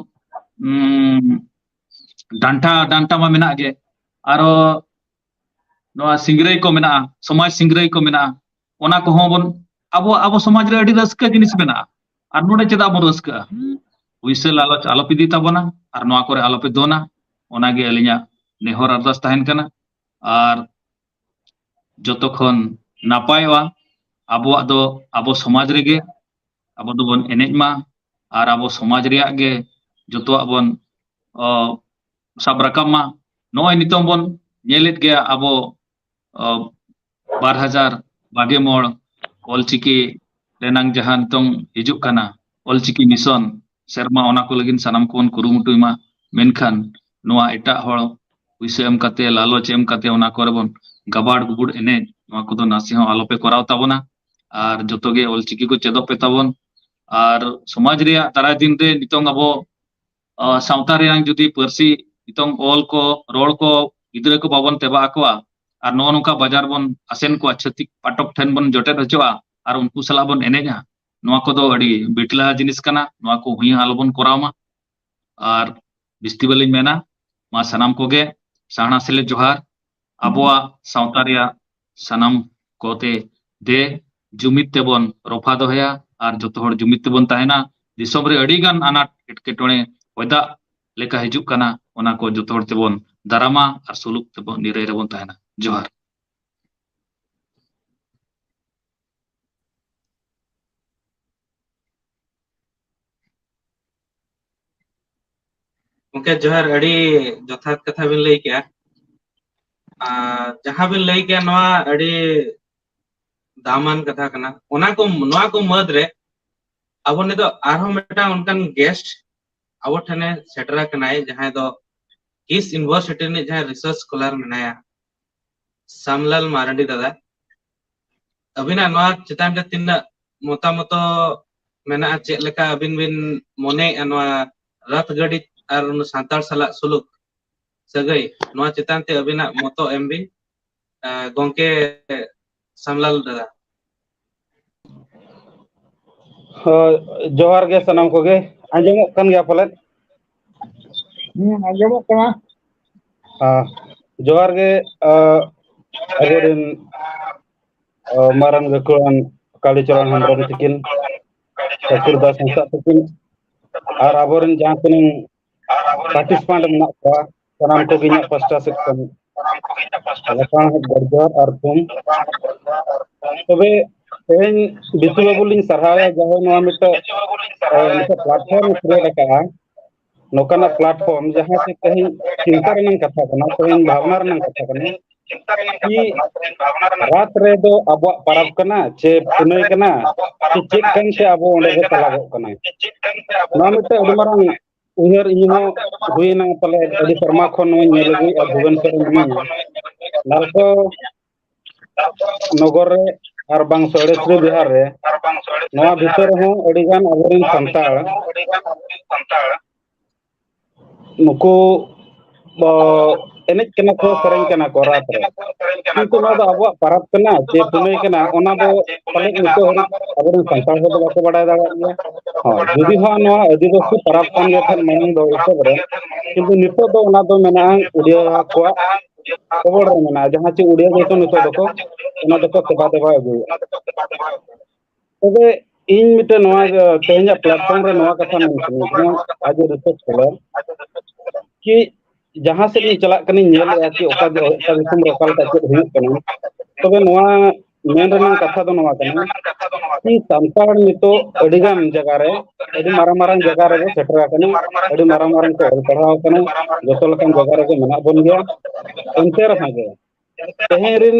ᱰᱟᱱᱴᱟ ᱰᱟᱱᱴᱟ ᱢᱟ ᱢᱮᱱᱟᱜ ᱜᱮ ᱟᱨᱚ ᱱᱚᱣᱟ ᱥᱤᱝᱨᱟᱹᱭ ᱠᱚ ᱢᱮᱱᱟᱜᱼᱟ ᱥᱚᱢᱟᱡᱽ ᱥᱤᱝᱨᱟᱹᱭ ᱠᱚ ᱢᱮᱱᱟᱜᱼᱟ ᱚᱱᱟ ᱠᱚᱦᱚᱸ ᱵᱚᱱ ᱟᱵᱚ ᱟᱵᱚ ᱥᱚᱢᱟᱡᱽ ᱨᱮ ᱟᱹᱰᱤ ᱨᱟᱹᱥᱠᱟᱹ ᱡᱤᱱᱤᱥ ᱢᱮᱱᱟᱜᱼᱟ ᱟᱨ ᱱᱚᱰᱮ ᱪᱮᱫᱟᱜ ᱵᱚᱱ ᱨᱟᱹᱥᱠᱟᱹᱜᱼᱟ ᱩᱭᱥᱟᱹ ᱞᱟᱞᱚᱪ ᱟᱞᱚᱯᱮ ᱤᱫᱤ ᱛᱟᱵᱚᱱᱟ ᱟᱨ ᱱᱚᱣᱟ ᱠᱚᱨᱮ ᱟᱞᱚᱯᱮ ᱫᱚᱱᱟ ᱚᱱᱟᱜᱮ ᱟᱹᱞᱤᱧᱟᱜ ᱱᱮᱦᱚᱨ ᱟᱨᱫᱟᱥ ᱛᱟᱦᱮᱱ ᱠᱟᱱᱟ ᱟᱨ ᱡᱚᱛᱚ ᱠᱷᱚᱱ ᱱᱟᱯᱟᱭᱚᱜᱼᱟ ᱟᱵᱚᱣᱟᱜ ᱫᱚ ᱟᱵᱚ ᱥᱚᱢᱟᱡᱽ ᱨᱮᱜᱮ ᱟᱵᱚ ᱫᱚᱵᱚᱱ ᱮᱱᱮᱡ ᱢᱟ ᱟᱨ ᱟᱵᱚ ᱥᱚᱢᱟᱡᱽ ᱨᱮᱭᱟᱜ ᱜᱮ ᱡᱚᱛᱚᱣᱟᱜ ᱵᱚᱱ ᱥᱟᱵ ᱨᱟᱠᱟᱵ ᱢᱟ ᱱᱚᱜᱼᱚᱭ ᱱᱤᱛᱚᱝ ᱵᱚᱱ ᱧᱮᱞᱮᱫ ᱜᱮᱭᱟ ᱟᱵᱚ ᱵᱟᱨ ᱦᱟᱡᱟᱨ ᱵᱟᱜᱮ ᱢᱚᱬ ᱚᱞᱪᱤᱠᱤ ᱨᱮᱱᱟᱝ ᱡᱟᱦᱟᱸ ᱱᱤᱛᱚᱝ ᱦᱤᱡᱩᱜ ᱠᱟᱱᱟ ᱚᱞᱪᱤᱠᱤ ᱢᱤᱥᱚᱱ ᱥᱮᱨᱢᱟ ᱚᱱᱟ ᱠᱚ ᱞᱟᱹᱜᱤᱫ ᱥᱟᱱᱟᱢ ᱠᱚᱵᱚᱱ ᱠᱩᱨᱩᱢᱩᱴᱩᱭ ᱢᱟ ᱢᱮᱱᱠᱷᱟᱱ ᱱᱚᱣᱟ ᱮᱴᱟᱜ ᱦᱚᱲ ᱯᱩᱭᱥᱟᱹ ᱮᱢ ᱠᱟᱛᱮ ᱞᱟᱞᱚᱪ ᱮᱢ ᱠᱟᱛᱮ ᱚᱱᱟ ᱠᱚᱨᱮ ᱵᱚᱱ ᱜᱟᱵᱟᱲ ᱜᱩᱵᱩᱲ ᱮᱱᱮᱡ ᱱᱚᱣᱟ ᱠᱚᱫᱚ ᱱᱟᱥᱮ ᱦᱚᱸ ᱟᱞᱚᱯᱮ ᱠᱚᱨᱟᱣ ᱛᱟᱵᱚᱱᱟ ᱟᱨ ᱡᱚᱛᱚ ᱜᱮ ᱚᱞᱪᱤᱠᱤ ᱠᱚ ᱪᱮᱫᱚᱜ ᱯᱮ ᱛᱟᱵᱚᱱ ᱟᱨ ᱥᱚᱢᱟᱡᱽ ᱨᱮᱭᱟᱜ ᱫᱟᱨᱟᱭ ᱫᱤᱱ ᱨᱮ ᱱᱤᱛᱚᱝ ᱟᱵᱚ ᱥᱟᱶᱛᱟ ᱨᱮᱭᱟᱝ ᱡᱩᱫᱤ ᱯᱟᱹᱨᱥᱤ ᱱᱤᱛᱚᱝ ᱚᱞ ᱠᱚ ᱨᱚᱲ ᱠᱚ ᱜᱤᱫᱽᱨᱟᱹ ᱠᱚ ᱵᱟᱵᱚᱱ ᱛᱮᱵᱟ ᱟᱠᱚᱣᱟ ᱟᱨ ᱱᱚᱜᱼᱚ ᱱᱚᱝᱠᱟ ᱵᱟᱡᱟᱨ ᱵᱚᱱ ᱟᱥᱮᱱ ᱠᱚᱣᱟ ᱪᱷᱟᱹᱛᱤᱠ ᱯᱟᱴᱚᱠ ᱴᱷᱮᱱ ᱵᱚᱱ ᱡᱚᱴᱮᱫ ᱦᱚᱪᱚᱜᱼᱟ ᱟᱨ ᱩᱱᱠᱩ ᱥᱟᱞᱟᱜ ᱵᱚᱱ ᱮᱱᱮᱡᱟ ᱱᱚᱣᱟ ᱠᱚᱫᱚ ᱟᱹᱰᱤ ᱵᱤᱴᱞᱟ ᱡᱤᱱᱤᱥ ᱠᱟᱱᱟ ᱱᱚᱣᱟ ᱠᱚ ᱦᱩᱭ ᱦᱚᱸ ᱟᱞᱚᱵᱚᱱ ᱠᱚᱨᱟᱣ ᱢᱟ ᱟᱨ ᱵᱤᱥᱛᱤ ᱵᱟᱹᱞᱤᱧ ᱢᱮᱱᱟ ᱢᱟ ᱥᱟᱱᱟᱢ ᱠᱚᱜᱮ ᱥᱟᱦᱱᱟ ᱥᱮᱞᱮᱫ ᱡᱚᱦᱟᱨ ᱟᱵᱚᱣᱟᱜ ᱥᱟᱶᱛᱟ ᱨᱮᱭᱟᱜ ᱥᱟᱱᱟᱢ ᱠᱚᱛᱮ ᱫᱮ ᱡᱩᱢᱤᱫ ᱛᱮᱵᱚᱱ ᱨᱚᱯᱷᱟ ᱫᱚᱦᱚᱭᱟ ᱟᱨ ᱡᱚᱛᱚ ᱦᱚᱲ ᱡᱩᱢᱤᱫ ᱛᱮᱵᱚᱱ ᱛᱟᱦᱮᱱᱟ ᱫᱤᱥᱚᱢ ᱨᱮ ᱟᱹᱰᱤ ᱜᱟᱱ ᱟᱱᱟᱴ ᱮᱴᱠᱮᱴᱚᱬᱮ ᱚᱭᱫᱟᱜ ᱞᱮᱠᱟ ᱦᱤᱡᱩᱜ ᱠᱟᱱᱟ ᱚᱱᱟ ᱠᱚ ᱡᱚᱛᱚ ᱦᱚᱲ ᱛᱮᱵᱚᱱ ᱫᱟᱨᱟᱢᱟ ᱟᱨ ᱥᱩᱞᱩᱠ ᱛᱮᱵᱚᱱ ᱱᱤᱨᱟᱹᱭ ᱨᱮᱵᱚᱱ ᱛᱟᱦᱮᱱᱟ ᱡᱚᱦᱟᱨ ᱜᱚᱝᱠᱮ ᱡᱚᱦᱟᱨ ᱟᱹᱰᱤ ᱡᱚᱛᱷᱟᱛ ᱠᱟᱛᱷᱟ ᱵᱤᱱ ᱞᱟᱹᱭ ᱠᱮᱜᱼᱟ᱾ ᱟᱨ ᱡᱟᱦᱟᱸ ᱵᱤᱱ ᱞᱟᱹᱭ ᱠᱮᱭᱟ ᱱᱚᱣᱟ ᱟᱹᱰᱤ ᱫᱟᱢᱟᱱ ᱠᱟᱛᱷᱟ ᱠᱟᱱᱟ ᱚᱱᱟ ᱠᱚ ᱱᱚᱣᱟ ᱠᱚ ᱢᱟᱹᱫᱽ ᱨᱮ ᱟᱵᱚ ᱱᱤᱛᱚᱜ ᱟᱨᱦᱚᱸ ᱢᱤᱫᱴᱟᱝ ᱚᱱᱠᱟᱱ ᱜᱮᱥᱴ ᱟᱵᱚ ᱴᱷᱮᱱᱮ ᱥᱮᱴᱮᱨ ᱟᱠᱟᱱᱟᱭ ᱡᱟᱦᱟᱸᱭ ᱫᱚ ᱠᱤᱥ ᱤᱱᱵᱷᱚᱨᱥᱤᱴᱤ ᱨᱤᱱᱤᱡ ᱡᱟᱦᱟᱸᱭ ᱨᱤᱥᱟᱨᱪ ᱥᱠᱚᱞᱟᱨ ᱢᱮᱱᱟᱭᱟ᱾ ᱥᱢᱞᱟᱞ ᱢᱟᱨᱰᱤ ᱫᱟᱫᱟ ᱟᱹᱵᱤᱱᱟᱜ ᱱᱚᱣᱟ ᱪᱮᱛᱟᱱ ᱨᱮ ᱛᱤᱱᱟᱹᱜ ᱢᱚᱛᱟ ᱢᱚᱛᱚ ᱢᱮᱱᱟᱜᱼᱟ ᱪᱮᱫ ᱞᱮᱠᱟ ᱟᱹᱵᱤᱱ ᱵᱤᱱ ᱢᱚᱱᱮᱭᱮᱫᱼᱟ ᱱᱚᱣᱟ ᱨᱟᱛ ᱜᱟᱹᱰᱤ ᱟᱨ ᱥᱟᱱᱛᱟᱲ ᱥᱟᱞᱟᱜ ᱥᱩᱞᱩᱠ ᱥᱟᱹᱜᱟᱹᱭ ᱱᱚᱣᱟ ᱪᱮᱛᱟᱱ ᱛᱮ ᱟᱹᱵᱤᱱᱟᱜ ᱢᱚᱛᱚ ᱮᱢ ᱵᱤᱱ ᱜᱚᱝᱠᱮ ᱥᱟᱢᱞᱟᱞ ᱫᱟᱫᱟ ᱦᱳᱭ ᱡᱚᱦᱟᱨ ᱜᱮ ᱥᱟᱱᱟᱢ ᱠᱚᱜᱮ ᱟᱸᱡᱚᱢᱚᱜ ᱠᱟᱱ ᱜᱮᱭᱟ ᱯᱟᱞᱮᱫ ᱦᱮᱸ ᱟᱸᱡᱚᱢᱚᱜ ᱠᱟᱱᱟ ᱦᱮᱸ ᱡᱚᱦᱟᱨ ᱜᱮ ᱟᱵᱚᱨᱮᱱ ᱢᱟᱨᱟᱝ ᱜᱟᱹᱠᱷᱩᱲᱟᱱ ᱠᱟᱞᱤᱪᱚᱨᱚᱱ ᱦᱮᱢᱵᱨᱚᱢ ᱛᱤᱠᱤᱱ ᱠᱟᱹᱯᱤᱞ ᱫᱟᱥ ᱦᱟᱸᱥᱫᱟ ᱛᱤᱠᱤᱱ ᱟᱨ ᱟᱵᱚᱨᱮᱱ ᱡᱟᱦᱟᱸ ᱛᱤᱱᱟᱹᱝ ᱯᱟᱴᱤᱥᱯᱮᱱᱴ ᱢᱮᱱᱟᱜ ᱠᱚᱣᱟ ᱥᱟᱱᱟᱢ ᱠᱚᱜᱮ ᱤᱧᱟᱹᱜ ᱯᱟᱥᱴᱟ ᱥᱮᱫ ᱠᱷᱚᱱ ᱞᱟᱯᱷᱟᱝ ᱡᱚᱦᱟᱨ ᱟᱨ ᱛᱷᱩᱢ ᱛᱚᱵᱮ ᱛᱮᱦᱮᱧ ᱵᱤᱥᱩ ᱵᱟᱹᱵᱩ ᱞᱤᱧ ᱥᱟᱨᱦᱟᱣᱮᱭᱟ ᱡᱟᱦᱟᱸᱭ ᱱᱚᱣᱟ ᱢᱤᱫᱴᱮᱱ ᱢᱤᱫᱴᱮᱱ ᱯᱞᱟᱴᱯᱷᱚᱨᱢ ᱠᱷᱩᱞᱟᱹᱣ ᱟᱠᱟᱫᱼᱟ ᱱᱚᱝᱠᱟᱱᱟᱜ ᱯᱞᱟᱴᱯᱷᱚᱨᱢ ᱡᱟᱦᱟᱸ ᱛᱮ ᱛᱮᱦᱮᱧ ᱪᱤᱱᱛᱟ ᱨᱮᱱᱟᱜ ᱠᱟᱛᱷᱟ ᱠᱟᱱᱟ ᱛᱮᱦᱮᱧ ᱵᱷᱟᱵᱽᱱᱟ ᱨᱮᱱᱟᱜ ᱠᱟᱛᱷᱟ ᱠᱟᱱᱟ ᱨᱟᱛ ᱨᱮᱫᱚ ᱟᱵᱚᱣᱟᱜ ᱯᱟᱨᱟᱵᱽ ᱠᱟᱱᱟ ᱪᱮ ᱯᱩᱱᱟᱹᱭ ᱠᱟᱱᱟ ᱪᱮ ᱪᱮᱫ ᱠᱟᱱ ᱪᱮ ᱟᱵᱚ ᱚᱸᱰᱮ ᱵᱚ ᱪᱟᱞᱟᱜᱚᱜ ᱠᱟᱱᱟ ᱱᱚᱣᱟ ᱢᱤᱫᱴᱮᱱ ᱟᱹᱰᱤ ᱢᱟᱨᱟᱝ ᱩᱭᱦᱟᱹᱨ ᱤᱧ ᱦᱚᱸ ᱦᱩᱭᱱᱟ ᱯᱟᱞᱮ ᱟᱹᱰᱤ ᱥᱮᱨᱢᱟ ᱠᱷᱚᱱ ᱱᱚᱣᱟᱧ ᱧᱮᱞ ᱟᱹᱜᱩᱭᱮᱫᱼᱟ ᱵᱷᱩᱵᱚᱱ ᱥᱚᱨ ᱢᱤᱱᱟᱹᱧᱟ ᱱᱟᱞᱠᱚ ᱱᱚᱜᱚᱨ ᱨᱮ ᱟᱨ ᱵᱟᱝ ᱥᱚᱨᱮᱥᱨᱤ ᱵᱤᱦᱟᱨ ᱨᱮ ᱱᱚᱣᱟ ᱵᱷᱤᱛᱟᱹᱨ ᱨᱮᱦᱚᱸ ᱟᱹᱰᱤᱜᱟᱱ ᱟᱵᱚᱨᱮᱱ ᱥᱟᱱᱛᱟᱲ ᱱᱩᱠᱩ ᱫᱚ ᱮᱱᱮᱡ ᱠᱟᱱᱟ ᱠᱚ ᱥᱮᱨᱮᱧ ᱠᱟᱱᱟ ᱠᱚ ᱨᱟᱛ ᱨᱮ ᱠᱤᱱᱛᱩ ᱱᱚᱣᱟ ᱫᱚ ᱟᱵᱚᱣᱟᱜ ᱯᱟᱨᱟᱽ ᱠᱟᱱᱟ ᱪᱮ ᱯᱩᱱᱟᱹᱭ ᱠᱟᱱᱟ ᱚᱱᱟ ᱫᱚ ᱯᱟᱞᱮᱫ ᱱᱤᱛᱚᱜ ᱦᱟᱹᱨᱤᱡ ᱟᱵᱚᱨᱮᱱ ᱥᱟᱱᱛᱟᱲ ᱦᱚᱲ ᱫᱚ ᱵᱟᱠᱚ ᱵᱟᱰᱟᱭ ᱫᱟᱲᱮᱭᱟᱜ ᱜᱮᱭᱟ ᱦᱳᱭ ᱡᱩᱫᱤ ᱦᱚᱸ ᱱᱚᱣᱟ ᱟᱹᱫᱤᱵᱟᱹᱥᱤ ᱯᱟᱨᱟᱽ ᱠᱟᱱ ᱜᱮ ᱠᱷᱟᱱ ᱢᱟᱲᱟᱝ ᱫᱚ ᱮᱛᱚᱵ ᱨᱮ ᱠᱤᱱᱛᱩ ᱱᱤᱛᱚᱜ ᱫᱚ ᱚᱱᱟ ᱫᱚ ᱢᱮᱱᱟᱜᱼᱟ ᱩᱰᱤᱭᱟᱹ ᱠᱚᱣᱟᱜ ᱠᱷᱚᱵᱚᱨ ᱨᱮ ᱢᱮᱱᱟᱜᱼᱟ ᱡᱟᱦᱟᱸ ᱪᱮᱫ ᱩᱰᱤᱭᱟ ᱜᱮᱠᱚ ᱱᱤᱛᱚᱜ ᱫᱚᱠᱚ ᱚᱱᱟ ᱫᱚᱠᱚ ᱥᱮᱵᱟ ᱫᱮᱵᱟ ᱟᱹᱜᱩᱭᱮᱫᱼᱟ ᱛᱚᱵᱮ ᱤᱧ ᱢᱤᱫᱴᱮᱱ ᱱᱚᱣᱟ ᱛᱮᱦᱮᱧᱟᱜ ᱯᱞᱟᱴᱯᱷᱚᱨᱚᱢ ᱨᱮ ᱱᱚᱣᱟ ᱠᱟᱛᱷᱟ ᱢᱮᱱ ᱥᱟᱱᱟᱧ ᱠᱟᱱᱟ ᱟᱡ ᱮ ᱨᱤᱥᱟᱨᱪ ᱠᱟᱫᱟ ᱠᱤ ᱡᱟᱦᱟᱸ ᱥᱮᱫ ᱤᱧ ᱪᱟᱞᱟᱜ ᱠᱟᱱᱟᱧ ᱧᱮᱞᱮᱫᱼᱟ ᱠᱤ ᱚᱠᱟ ᱚᱠᱟ ᱫᱤᱥᱚᱢ ᱨᱮ ᱚᱠᱟ ᱞᱮᱠᱟ ᱪᱮᱫ ᱦᱩᱭᱩᱜ ᱠᱟᱱᱟ ᱛᱚᱵᱮ ᱱᱚᱣᱟ ᱢᱮᱱ ᱨᱮᱱᱟᱝ ᱠᱟᱛᱷᱟ ᱫᱚ ᱱᱚᱣᱟ ᱠᱟᱱᱟ ᱠᱤ ᱥᱟᱱᱛᱟᱲ ᱱᱤᱛᱚᱜ ᱟᱹᱰᱤ ᱜᱟᱱ ᱡᱟᱭᱜᱟ ᱨᱮ ᱟᱹᱰᱤ ᱢᱟᱨᱟᱝ ᱢᱟᱨᱟᱝ ᱡᱟᱭᱜᱟ ᱨᱮᱵᱚ ᱥᱮᱴᱮᱨ ᱟᱠᱟᱱᱟ ᱟᱹᱰᱤ ᱢᱟᱨᱟᱝ ᱢᱟᱨᱟᱝ ᱠᱚ ᱚᱞ ᱯᱟᱲᱦᱟᱣ ᱟᱠᱟᱱᱟ ᱡᱚᱛᱚ ᱞᱮᱠᱟᱱ ᱡᱟᱭᱜᱟ ᱨᱮᱜᱮ ᱢᱮᱱᱟᱜ ᱵᱚᱱ ᱜᱮᱭᱟ ᱮᱱᱛᱮ ᱨᱮᱦᱚᱸ ᱜᱮ ᱛᱮᱦᱮᱧ ᱨᱤᱱ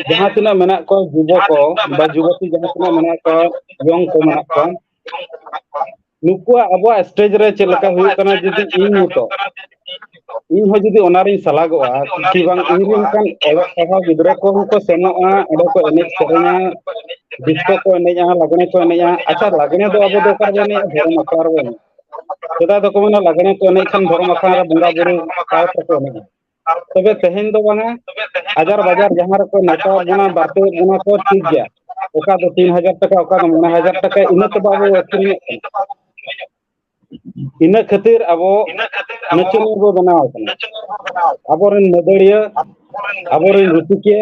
ᱡᱟᱦᱟᱸ ᱛᱤᱱᱟᱹᱜ ᱢᱮᱱᱟᱜ ᱠᱚᱣᱟ ᱡᱩᱵᱚ ᱠᱚ ᱵᱟ ᱡᱩᱵᱚᱛᱤ ᱡᱟᱦᱟᱸ ᱛᱤᱱᱟᱹᱜ ᱢᱮᱱᱟᱜ ᱠᱚᱣᱟ ᱤᱭᱚᱝ ᱠᱚ ᱢᱮᱱᱟᱜ ᱠᱚᱣᱟ ᱱᱩᱠᱩᱣᱟᱜ ᱟᱵᱚᱣᱟᱜ ᱥᱴᱮᱡ ᱨᱮ ᱪᱮᱫ ᱞᱮᱠᱟ ᱦᱩᱭᱩᱜ ᱠᱟᱱᱟ ᱡᱩᱫᱤ ᱤᱧ ᱱᱤᱛᱚᱜ ᱤᱧ ᱦᱚᱸ ᱡᱩᱫᱤ ᱚᱱᱟ ᱨᱤᱧ ᱥᱟᱞᱟᱜᱚᱜᱼᱟ ᱠᱤ ᱵᱟᱝ ᱤᱧ ᱨᱮᱱ ᱚᱱᱠᱟᱱ ᱚᱞᱚᱜ ᱯᱟᱲᱦᱟᱣ ᱜᱤᱫᱽᱨᱟᱹ ᱠᱚᱦᱚᱸ ᱠᱚ ᱥᱮᱱᱚᱜᱼᱟ ᱚᱸᱰᱮ ᱠᱚ ᱮᱱᱮᱡ ᱥᱮᱨᱮᱧᱟ ᱰᱤᱥᱠᱳ ᱠᱚ ᱮᱱᱮᱡᱼᱟ ᱞᱟᱜᱽᱲᱮ ᱠᱚ ᱮᱱᱮᱡᱼᱟ ᱟᱪᱪᱷᱟ ᱞᱟᱜᱽᱲᱮ ᱫᱚ ᱟᱵᱚ ᱫᱚ ᱚᱠᱟ ᱨᱮᱵᱚ ᱮᱱᱮᱡᱼᱟ ᱫᱷᱚᱨᱚᱢ ᱟᱠᱷᱲᱟ ᱨᱮᱵᱚ ᱮᱱᱮᱡᱼᱟ ᱥᱮᱫᱟᱭ ᱫᱚᱠᱚ ᱢᱮᱱᱟ ᱞᱟᱜᱽᱲᱮ ᱠᱚ ᱮᱱᱮᱡ ᱠᱷᱟᱱ ᱫᱷᱚᱨᱚᱢ ᱟᱠᱷᱲᱟ ᱨᱮ ᱵᱚᱸᱜᱟ ᱵᱩᱨᱩ ᱥᱟᱶ ᱛᱮᱠᱚ ᱮᱱᱮᱡᱼᱟ ᱛᱚᱵᱮ ᱛᱮᱦᱮᱧ ᱫᱚ ᱵᱟᱝᱟ ᱦᱟᱡᱟᱨ ᱵᱟᱡᱟᱨ ᱡᱟᱦᱟᱸ ᱨᱮᱠᱚ ᱱᱮᱛᱟᱣ ᱵᱚᱱᱟ ᱵᱟᱨᱛᱤ ᱵᱚᱱᱟ ᱠᱚ ᱴᱷᱤᱠ ᱜᱮᱭᱟ ᱚᱠᱟ ᱫᱚ ᱛᱤᱱ ᱦᱟᱡᱟᱨ ᱴᱟᱠᱟ ᱚᱠᱟ ᱫᱚ ᱢᱚᱬᱮ ᱦᱟᱡᱟᱨ ᱴᱟᱠᱟ ᱤᱱᱟᱹ ᱛᱮ ᱵᱟᱵᱚ ᱟᱹᱠᱷᱨᱤᱧᱮᱫ ᱠᱟᱱᱟ ᱤᱱᱟᱹ ᱠᱷᱟᱹᱛᱤᱨ ᱟᱵᱚ ᱱᱤᱪᱩᱝ ᱵᱚ ᱵᱮᱱᱟᱣ ᱠᱟᱱᱟ ᱟᱵᱚᱨᱮᱱ ᱢᱟᱹᱫᱟᱹᱲᱤᱭᱟᱹ ᱟᱵᱚᱨᱮᱱ ᱨᱩᱥᱤᱠᱤᱭᱟᱹ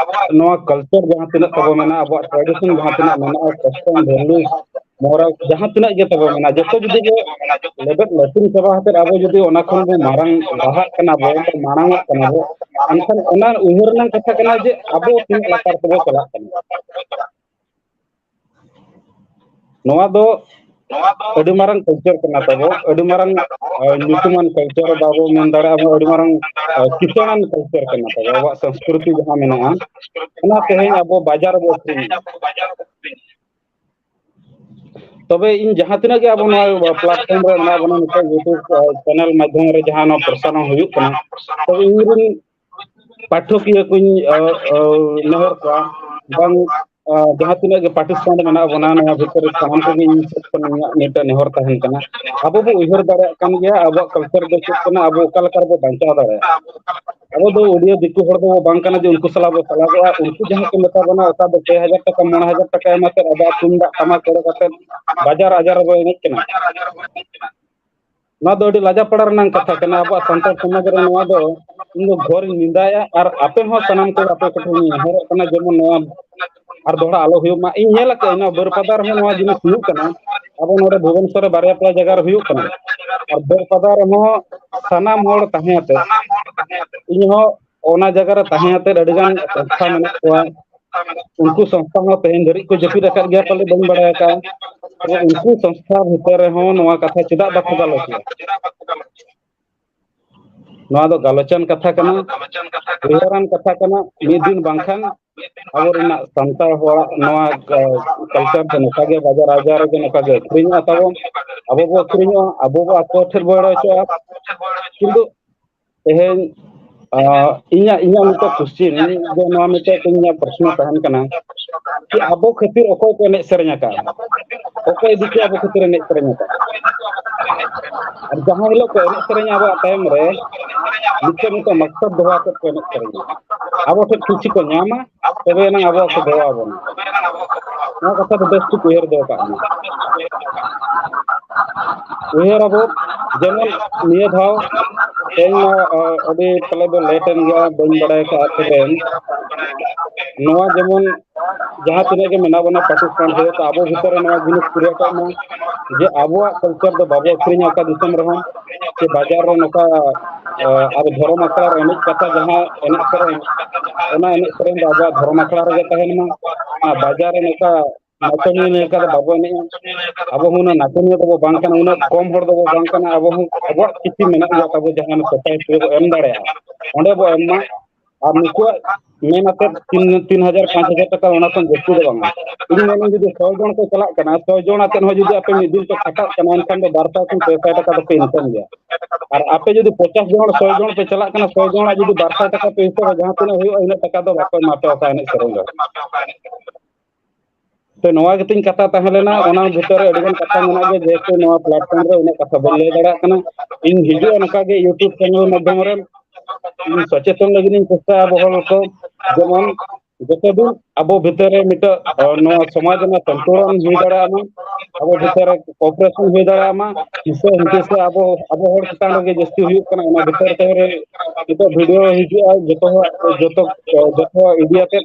ᱟᱵᱚᱣᱟᱜ ᱱᱚᱣᱟ ᱠᱟᱞᱪᱟᱨ ᱡᱟᱦᱟᱸ ᱛᱤᱱᱟᱹᱜ ᱛᱟᱵᱚ ᱢᱮᱱᱟᱜᱼᱟ ᱟᱵᱚᱣᱟᱜ ᱴᱨᱟᱰᱤᱥᱚᱱ ᱡᱟᱦᱟᱸ ᱛᱤᱱᱟᱹᱜ ᱢᱮᱱᱟᱜᱼᱟ ᱠᱚᱥᱴᱚᱢ ᱵᱷᱮᱞᱩ ᱢᱚᱨᱟᱞ ᱡᱟᱦᱟᱸ ᱛᱤᱱᱟᱹᱜ ᱜᱮ ᱛᱟᱵᱚ ᱢᱮᱱᱟᱜᱼᱟ ᱡᱚᱛᱚ ᱡᱩᱫᱤ ᱜᱮ ᱞᱮᱵᱮᱫ ᱞᱟᱹᱴᱤᱝ ᱪᱟᱵᱟ ᱠᱟᱛᱮᱫ ᱟᱵᱚ ᱡᱩᱫᱤ ᱚᱱᱟ ᱠᱷᱚᱱ ᱵᱚ ᱢᱟᱨᱟᱝ ᱞᱟᱦᱟᱜ ᱠᱟᱱᱟ ᱵᱚ ᱢᱟᱲᱟᱝ ᱚᱜ ᱠᱟᱱᱟ ᱵᱚ ᱮᱱᱠᱷᱟᱱ ᱚᱱᱟ ᱩᱭᱦᱟᱹᱨ ᱨᱮᱱᱟᱝ ᱠᱟᱛᱷᱟ ᱠᱟᱱᱟ ᱡᱮ ᱟᱵᱚ ᱛᱤᱱᱟᱹᱜ ᱞᱟᱛᱟᱨ ᱛᱮᱵᱚ ᱪᱟᱞᱟᱜ ᱠᱟᱱᱟ ᱱᱚᱣᱟ ᱫᱚ ᱟᱹᱰᱤ ᱢᱟᱨᱟᱝ ᱠᱟᱞᱪᱟᱨ ᱠᱟᱱᱟ ᱛᱟᱵᱚ ᱟᱹᱰᱤ ᱢᱟᱨᱟᱝ ᱧᱩᱛᱩᱢᱟᱱ ᱠᱟᱞᱪᱟᱨ ᱵᱟᱵᱚ ᱢᱮᱱ ᱫᱟᱲᱮᱭᱟᱜᱼᱟ ᱟᱹᱰᱤ ᱢᱟᱨᱟᱝ ᱠᱤᱥᱟᱹᱬᱟᱱ ᱠᱟᱞᱪᱟᱨ ᱠᱟᱱᱟ ᱛᱟᱵᱚ ᱟᱵᱚᱣᱟᱜ ᱥᱚᱝᱥᱠᱨᱤᱛᱤ ᱡᱟᱦᱟᱸ ᱢᱮᱱᱟᱜᱼᱟ ᱚᱱᱟ ᱛᱮᱦᱮᱧ ᱟᱵᱚ ᱵᱟᱡᱟᱨ ᱨᱮᱵᱚ ᱟᱹᱠᱷᱨᱤᱧᱮᱫᱼᱟ ᱛᱚᱵᱮ ᱤᱧ ᱡᱟᱦᱟᱸ ᱛᱤᱱᱟᱹᱜ ᱜᱮ ᱟᱵᱚ ᱱᱚᱣᱟ ᱯᱞᱟᱴᱯᱷᱚᱨᱢ ᱨᱮ ᱢᱮᱱᱟᱜ ᱵᱚᱱᱟ ᱱᱤᱛᱚᱜ ᱤᱭᱩᱴᱩᱵᱽ ᱪᱮᱱᱮᱞ ᱢᱟᱫᱽᱫᱷᱚᱢ ᱨᱮ ᱡᱟᱦᱟᱸ ᱱᱚᱣᱟ ᱯᱨᱚᱥᱟᱨᱚᱱ ᱦᱩᱭᱩᱜ ᱠᱟᱱᱟ ᱛᱚᱵᱮ ᱤᱧᱨᱮᱱ ᱯᱟᱴᱷᱚᱠᱤᱭᱟᱹ ᱠᱩᱧ ᱱᱮᱦᱚᱨ ᱠᱚᱣᱟ ᱵᱟᱝ ᱡᱟᱦᱟᱸ ᱛᱤᱱᱟᱹᱜ ᱜᱮ ᱯᱟᱨᱴᱤᱥᱤᱯᱮᱱᱴ ᱢᱮᱱᱟᱜ ᱵᱚᱱᱟ ᱱᱚᱣᱟ ᱵᱷᱤᱛᱨᱤ ᱨᱮ ᱥᱟᱱᱟᱢ ᱠᱚᱜᱮ ᱤᱧ ᱥᱮᱫ ᱠᱷᱚᱱ ᱤᱧᱟᱹᱜ ᱢᱤᱫᱴᱮᱱ ᱱᱮᱦᱚᱨ ᱛᱟᱦᱮᱱ ᱠᱟᱱᱟ ᱟᱵᱚ ᱵᱚ ᱩᱭᱦᱟᱹᱨ ᱫᱟᱲᱮᱭᱟᱜ ᱠᱟᱱ ᱜᱮᱭᱟ ᱟᱵᱚᱣᱟᱜ ᱠᱟᱞᱪᱟᱨ ᱫᱚ ᱪᱮᱫ ᱠᱟᱱᱟ ᱟᱵᱚ ᱚᱠᱟ ᱞᱮᱠᱟ ᱨᱮᱵᱚ ᱵᱟᱧᱪᱟᱣ ᱫᱟᱲᱮᱭᱟᱜᱼᱟ ᱟᱵᱚ ᱫᱚ ᱩᱰᱤᱭᱟᱹ ᱫᱤᱠᱩ ᱦᱚᱲ ᱫᱚ ᱵᱟᱝ ᱠᱟᱱᱟ ᱡᱮ ᱩᱱᱠᱩ ᱥᱟᱞᱟᱜ ᱵᱚ ᱥᱟᱞᱟᱜᱚᱜᱼᱟ ᱩᱱᱠᱩ ᱡᱟᱦᱟᱸ ᱠᱚ ᱢᱮᱛᱟ ᱵᱚᱱᱟ ᱚᱠᱟ ᱫᱚ ᱯᱮ ᱦᱟᱡᱟᱨ ᱴᱟᱠᱟ ᱢᱚᱬᱮ ᱦᱟᱡᱟᱨ ᱴᱟᱠᱟ ᱮᱢ ᱟᱛᱮᱫ ᱟᱵᱚᱣᱟᱜ ᱛᱩᱢᱫᱟᱜ ᱴᱟᱢᱟᱠ ᱠᱚᱨᱮ ᱠᱟᱛᱮᱫ ᱵᱟᱡᱟᱨ ᱟᱡᱟᱨ ᱨᱮᱵᱚ ᱮᱱᱮᱡ ᱠᱟᱱᱟ ᱱᱚᱣᱟ ᱫᱚ ᱟᱹᱰᱤ ᱞᱟᱡᱟ ᱯᱟᱲᱟ ᱨᱮᱱᱟᱝ ᱠᱟᱛᱷᱟ ᱠᱟᱱᱟ ᱟᱵᱚᱣᱟᱜ ᱥᱟᱱᱛᱟᱲ ᱥᱚᱢᱟᱡᱽ ᱨᱮ ᱱᱚᱣᱟ ᱫᱚ ᱤᱧ ᱫᱚ ᱜᱷᱚᱨᱤᱧ ᱱᱮᱸᱫᱟᱭᱟ ᱟᱨ ᱟᱯᱮ ᱦᱚᱸ ᱥᱟᱱᱟᱢ ᱠᱚ ᱟᱯᱮ ᱠᱚᱴᱷᱮᱱ ᱤᱧ ᱱᱮᱦᱚᱨᱚᱜ ᱠᱟᱱᱟ ᱡᱮᱢᱚᱱ ᱱᱚᱣᱟ ᱟᱨ ᱫᱚᱦᱲᱟ ᱟᱞᱚ ᱦᱩᱭᱩᱜ ᱢᱟ ᱤᱧ ᱧᱮᱞ ᱟᱠᱟᱫᱟᱹᱧ ᱱᱚᱣᱟ ᱵᱟᱹᱨᱯᱟᱫᱟ ᱨᱮᱦᱚᱸ ᱱᱚᱣᱟ ᱡᱤᱱᱤᱥ ᱦᱩᱭᱩᱜ ᱠᱟᱱᱟ ᱟᱵᱚ ᱱᱚᱰᱮ ᱵᱷᱩᱵᱚᱱᱮᱥᱚᱨ ᱨᱮ ᱵᱟᱨᱭᱟ ᱯᱮᱭᱟ ᱡᱟᱭᱜᱟ ᱨᱮ ᱦᱩᱭᱩᱜ ᱠᱟᱱᱟ ᱟᱨ ᱵᱟᱹᱨᱯᱟᱫᱟ ᱨᱮᱦᱚᱸ ᱥᱟᱱᱟᱢ ᱦᱚᱲ ᱛᱟᱦᱮᱸ ᱟᱛᱮ ᱤᱧᱦᱚᱸ ᱚᱱᱟ ᱡᱟᱭᱜᱟ ᱨᱮ ᱛᱟᱦᱮᱸ ᱟᱛᱮᱫ ᱟᱹᱰᱤ ᱜᱟᱱ ᱥᱚᱝᱥᱛᱷᱟ ᱢᱮᱱᱟᱜ ᱠᱚᱣᱟ ᱩᱱᱠᱩ ᱥᱚᱝᱥᱛᱷᱟ ᱦᱚᱸ ᱛᱮᱦᱮᱧ ᱫᱷᱟᱹᱨᱤᱡ ᱠᱚ ᱡᱟᱹᱯᱤᱫ ᱟᱠᱟᱫ ᱜᱮᱭᱟ ᱯᱟᱞᱮ ᱵᱟᱹᱧ ᱵᱟᱲᱟᱭ ᱟᱠᱟᱫᱼᱟ ᱛᱚᱵᱮ ᱩᱱᱠᱩ ᱥᱚᱝᱥᱛᱷᱟ ᱵᱷᱤᱛᱨᱤ ᱨᱮᱦᱚᱸ ᱱᱚᱣᱟ ᱠᱟᱛᱷᱟ ᱪᱮᱫᱟᱜ ᱵᱟᱠᱚ ᱜᱟᱞᱚᱪ ᱮᱫᱟ ᱱᱚᱣᱟ ᱫᱚ ᱜᱟᱞᱚᱪᱟᱱ ᱠᱟᱛᱷᱟ ᱠᱟᱱᱟ ᱩᱭᱦᱟᱹᱨᱟᱱ ᱠᱟᱛᱷᱟ ᱠᱟᱱᱟ ᱢᱤᱫ ᱫᱤᱱ ᱵᱟᱝᱠᱷᱟᱱ ᱟᱵᱚ ᱨᱮᱱᱟᱜ ᱥᱟᱱᱛᱟᱲ ᱦᱚᱲᱟᱜ ᱱᱚᱣᱟ ᱠᱟᱞᱪᱟᱨ ᱫᱚ ᱱᱚᱝᱠᱟ ᱜᱮ ᱵᱟᱡᱟᱨ ᱟᱡᱟᱨ ᱨᱮᱜᱮ ᱱᱚᱝᱠᱟ ᱜᱮ ᱟᱹᱠᱷᱨᱤᱧᱚᱜᱼᱟ ᱛᱟᱵᱚᱱ ᱟᱵᱚ ᱵᱚ ᱟᱹᱠᱷᱨᱤᱧᱚᱜᱼᱟ ᱟᱵᱚ ᱵᱚ ᱟᱠᱚ ᱴᱷᱮᱱ ᱵᱚ ᱮᱲᱮ ᱦᱚᱪᱚᱜᱼᱟ ᱠᱤᱱᱛᱩ ᱛᱮᱦᱮᱧ ᱟ ᱤᱧᱟᱹᱜ ᱤᱧᱟᱹᱜ ᱢᱤᱫᱴᱮᱱ ᱠᱚᱥᱪᱮᱱ ᱟᱫᱚ ᱱᱚᱣᱟ ᱢᱤᱫᱴᱮᱱ ᱤᱧᱟᱹᱜ ᱯᱨᱚᱥᱱᱚ ᱛᱟᱦᱮᱱ ᱠᱟᱱᱟ ᱠᱤ ᱟᱵᱚ ᱠᱷᱟᱹᱛᱤᱨ ᱚᱠᱚᱭ ᱠᱚ ᱮᱱᱮᱡ ᱥᱮᱨᱮᱧ ᱟᱠᱟᱫᱼᱟ ᱚᱠᱚᱭ ᱤᱫᱤ ᱠᱟᱛᱮ ᱟᱵᱚ ᱠᱷᱟᱹᱛᱤᱨ ᱮᱱᱮᱡ ᱥᱮᱨᱮᱧ ᱟᱠᱟᱫᱼᱟ ᱟᱨ ᱡᱟᱦᱟᱸ ᱦᱤᱞᱳᱜ ᱠᱚ ᱮᱱᱮᱡ ᱥᱮᱨᱮᱧᱟ ᱟᱵᱚᱣᱟᱜ ᱛᱟᱭᱚᱢ ᱨᱮ ᱢᱤᱫᱴᱮᱱ ᱢᱤᱫᱴᱮᱱ ᱢᱟᱥᱴᱟᱨ ᱫᱚᱦᱚ ᱟᱛᱮᱫ ᱠᱚ ᱮᱱᱮᱡ ᱥᱮᱨᱮᱧᱟ ᱟᱵᱚ ᱴᱷᱮᱱ ᱠᱩᱥᱤ ᱠᱚ ᱧᱟᱢᱟ ᱛᱚᱵᱮ ᱮᱱᱟᱝ ᱟᱵᱚᱣᱟᱜ ᱠᱚ ᱫᱮᱵᱟ ᱟᱵᱚᱱᱟ ᱱᱚᱣᱟ ᱠᱟᱛᱷᱟ ᱫᱚ ᱵᱮᱥ ᱴᱷᱤᱠ ᱩᱭᱦᱟᱹᱨ ᱫᱚᱦᱚ ᱠᱟᱜ ᱢᱮ ᱩᱭᱦᱟᱹᱨ ᱟᱵᱚ ᱡᱮᱢᱚᱱ ᱱᱤᱭᱟᱹ ᱫᱷᱟᱣ ᱛᱮᱦᱮᱧ ᱢᱟ ᱟᱹᱰᱤ ᱯᱟᱞᱮ ᱫᱚ ᱞᱮᱴ ᱮᱱ ᱜᱮᱭᱟ ᱵᱟᱹᱧ ᱵᱟᱲᱟᱭ ᱠᱟᱜᱼᱟ ᱛᱚᱵᱮ ᱱᱚᱣᱟ ᱡᱮᱢᱚᱱ ᱡᱟᱦᱟᱸ ᱛᱤᱱᱟᱹᱜ ᱜᱮ ᱢᱮᱱᱟᱜ ᱵᱚᱱᱟ ᱯᱟᱠᱤᱥᱛᱟᱱ ᱨᱮ ᱛᱚ ᱟᱵᱚ ᱵᱷᱤᱛᱚᱨ ᱨᱮ ᱱᱚᱣᱟ ᱡᱤᱱᱤᱥ ᱠᱨᱤᱭᱮᱴᱚᱜ ᱢᱟ ᱡᱮ ᱟᱵᱚᱣᱟᱜ ᱠᱟᱞᱪᱟᱨ ᱫᱚ ᱵᱟᱵᱚ ᱟᱹᱠᱷᱨᱤᱧᱟ ᱚᱠᱟ ᱫᱤᱥᱚᱢ ᱨᱮᱦᱚᱸ ᱥᱮ ᱵᱟᱡᱟᱨ ᱨᱮ ᱱᱚᱝᱠᱟ ᱟᱵᱚ ᱫᱷᱚᱨᱚᱢ ᱟᱠᱷᱲᱟ ᱨᱮ ᱮᱱᱮᱡ ᱠᱟᱛᱮ ᱡᱟᱦᱟᱸ ᱮᱱᱮᱡ ᱥᱮᱨᱮᱧ ᱚᱱᱟ ᱮᱱᱮᱡ ᱥᱮᱨᱮᱧ ᱫᱚ ᱟᱵᱚᱣᱟᱜ ᱫᱷᱚᱨᱚᱢ ᱟᱠᱷᱲᱟ ᱨᱮᱜᱮ ᱛᱟᱦᱮᱱ ᱢᱟ ᱟᱨ ᱵᱟᱡᱟᱨ ᱨᱮ ᱱᱚᱝᱠᱟ ᱱᱟᱪᱚᱱᱤᱭᱟᱹ ᱞᱮᱠᱟ ᱫᱚ ᱵᱟᱵᱚ ᱮᱱᱮᱡᱼᱟ ᱟᱵᱚ ᱦᱚᱸ ᱩᱱᱟᱹᱜ ᱱᱟᱪᱚᱱᱤᱭᱟᱹ ᱫᱚᱵᱚ ᱵᱟᱝ ᱠᱟᱱᱟ ᱩᱱᱟᱹᱜ ᱠᱚᱢ ᱦᱚᱲ ᱫᱚᱵᱚ ᱵᱟᱝ ᱠᱟᱱᱟ ᱟᱵᱚ ᱦᱚᱸ ᱟᱵᱚᱣᱟᱜ ᱠᱤᱪᱷᱩ ᱢᱮᱱᱟᱜ ᱜᱮᱭᱟ ᱛᱟᱵᱚ ᱡᱟᱦᱟᱸ ᱥᱳᱥᱟᱭᱴᱤ ᱨᱮᱵᱚ ᱮᱢ ᱫᱟᱲᱮᱭᱟᱜᱼᱟ ᱚᱸᱰᱮ ᱵᱚ ᱮᱢ ᱢᱟ ᱟᱨ ᱱᱩᱠᱩᱣᱟᱜ ᱢᱮᱱ ᱟᱛᱮᱫ ᱛᱤᱱ ᱛᱤᱱ ᱦᱟᱡᱟᱨ ᱯᱟᱸᱪ ᱦᱟᱡᱟᱨ ᱴᱟᱠᱟ ᱚᱱᱟ ᱠᱷᱚᱱ ᱡᱟᱹᱥᱛᱤ ᱫᱚ ᱵᱟᱝᱟ ᱤᱧ ᱢᱮᱱᱟᱹᱧ ᱡᱩᱫᱤ ᱥᱚ ᱡᱚᱱ ᱠᱚ ᱪᱟᱞᱟᱜ ᱠᱟᱱᱟ ᱥᱚ ᱡᱚᱱ ᱟᱛᱮᱫ ᱦᱚᱸ ᱡᱩᱫᱤ ᱟᱯᱮ ᱢᱤᱫ ᱫᱤᱱ ᱯᱮ ᱠᱷᱟᱴᱟᱜ ᱠᱟᱱᱟ ᱮᱱᱠᱷᱟᱱ ᱫᱚ ᱵᱟᱨ ᱥᱟᱭ ᱠᱷᱚᱱ ᱯᱮ ᱥᱟᱭ ᱴᱟᱠᱟ ᱫᱚᱯᱮ ᱤᱱᱠᱟᱢ ᱜᱮᱭᱟ ᱟᱨ ᱟᱯᱮ ᱡᱩᱫᱤ ᱯᱚᱪᱟᱥ ᱡᱚᱱ ᱥᱚ ᱡᱚᱱ ᱯᱮ ᱪᱟᱞᱟᱜ ᱠᱟᱱᱟ ᱥᱚ ᱡᱚᱱᱟᱜ ᱡᱩᱫᱤ ᱵᱟᱨ ᱥᱟᱭ ᱴᱟᱠᱟ ᱯᱮ ᱦᱤᱥᱟᱹᱵᱟ ᱡᱟᱦᱟᱸ ᱛᱤᱱᱟᱹᱜ ᱦᱩᱭᱩᱜᱼᱟ ᱤᱱᱟᱹᱜ ᱴᱟᱠᱟ ᱫᱚ ᱵᱟᱠᱚ ᱮᱢᱟ ᱯᱮᱭᱟ ᱚᱠᱟ ᱮᱱᱮᱡ ᱥᱮᱨᱮᱧ ᱫᱚ ᱛᱚ ᱱᱚᱣᱟ ᱜᱮᱛᱤᱧ ᱠᱟᱛᱷᱟ ᱛᱟᱦᱮᱸ ᱞᱮᱱᱟ ᱚᱱᱟ ᱵᱷᱤᱛᱚᱨ ᱨᱮ ᱟᱹᱰᱤᱜᱟᱱ ᱠᱟᱛᱷᱟ ᱢᱮᱱᱟᱜ ᱜᱮᱭᱟ ᱡᱮᱦᱮᱛᱩ ᱱᱚᱣᱟ ᱯᱞᱟᱴᱯᱷᱚᱨᱢ ᱨᱮ ᱩᱱᱟᱹᱜ ᱠᱟᱛᱷᱟ ᱵᱟᱹᱧ ᱞᱟᱹᱭ ᱫᱟᱲᱮᱭᱟᱜ ᱠᱟᱱᱟ ᱤᱧ ᱦᱤᱡᱩᱜᱼᱟ ᱱᱚᱝᱠᱟ ᱜᱮ ᱤᱭᱩᱴᱩᱵᱽ ᱪᱮᱱᱮᱞ ᱢᱟᱫᱽᱫᱷᱚᱢ ᱨᱮ ᱤᱧ ᱥᱚᱪᱮᱛᱚᱱ ᱞᱟᱹᱜᱤᱫ ᱤᱧ ᱪᱮᱥᱴᱟᱭᱟ ᱟᱵᱚ ᱦᱚᱲ ᱠᱚ ᱡᱮᱢᱚᱱ ᱡᱚᱛᱚ ᱫᱤᱱ ᱟᱵᱚ ᱵᱷᱤᱛᱨᱤ ᱨᱮ ᱱᱤᱛᱚᱜ ᱱᱚᱣᱟ ᱥᱚᱢᱟᱡᱽ ᱨᱮᱱᱟᱜ ᱥᱚᱱᱛᱩᱞᱚᱱ ᱦᱩᱭ ᱫᱟᱲᱮᱭᱟᱜ ᱢᱟ ᱟᱵᱚ ᱵᱷᱤᱛᱨᱤ ᱨᱮ ᱠᱚᱯᱨᱮᱥᱚᱱ ᱦᱩᱭ ᱫᱟᱲᱮᱭᱟᱜ ᱢᱟ ᱦᱤᱥᱟᱹ ᱦᱩᱫᱤᱥᱟ ᱟᱵᱚ ᱟᱵᱚ ᱦᱚᱲ ᱪᱮᱛᱟᱱ ᱨᱮᱜᱮ ᱡᱟᱹᱥᱛᱤ ᱦᱩᱭᱩᱜ ᱠᱟᱱᱟ ᱚᱱᱟ ᱵᱷᱤᱛᱟᱹᱨ ᱛᱮ ᱨᱮ ᱱᱤᱛᱚᱜ ᱵᱷᱤᱰᱭᱳ ᱦᱤᱡᱩᱜᱼᱟ ᱡᱚᱛᱚ ᱦᱚᱲᱟᱜ ᱡᱚᱛᱚ ᱡᱚᱛᱚ ᱤᱫᱤᱭᱟᱛᱮᱫ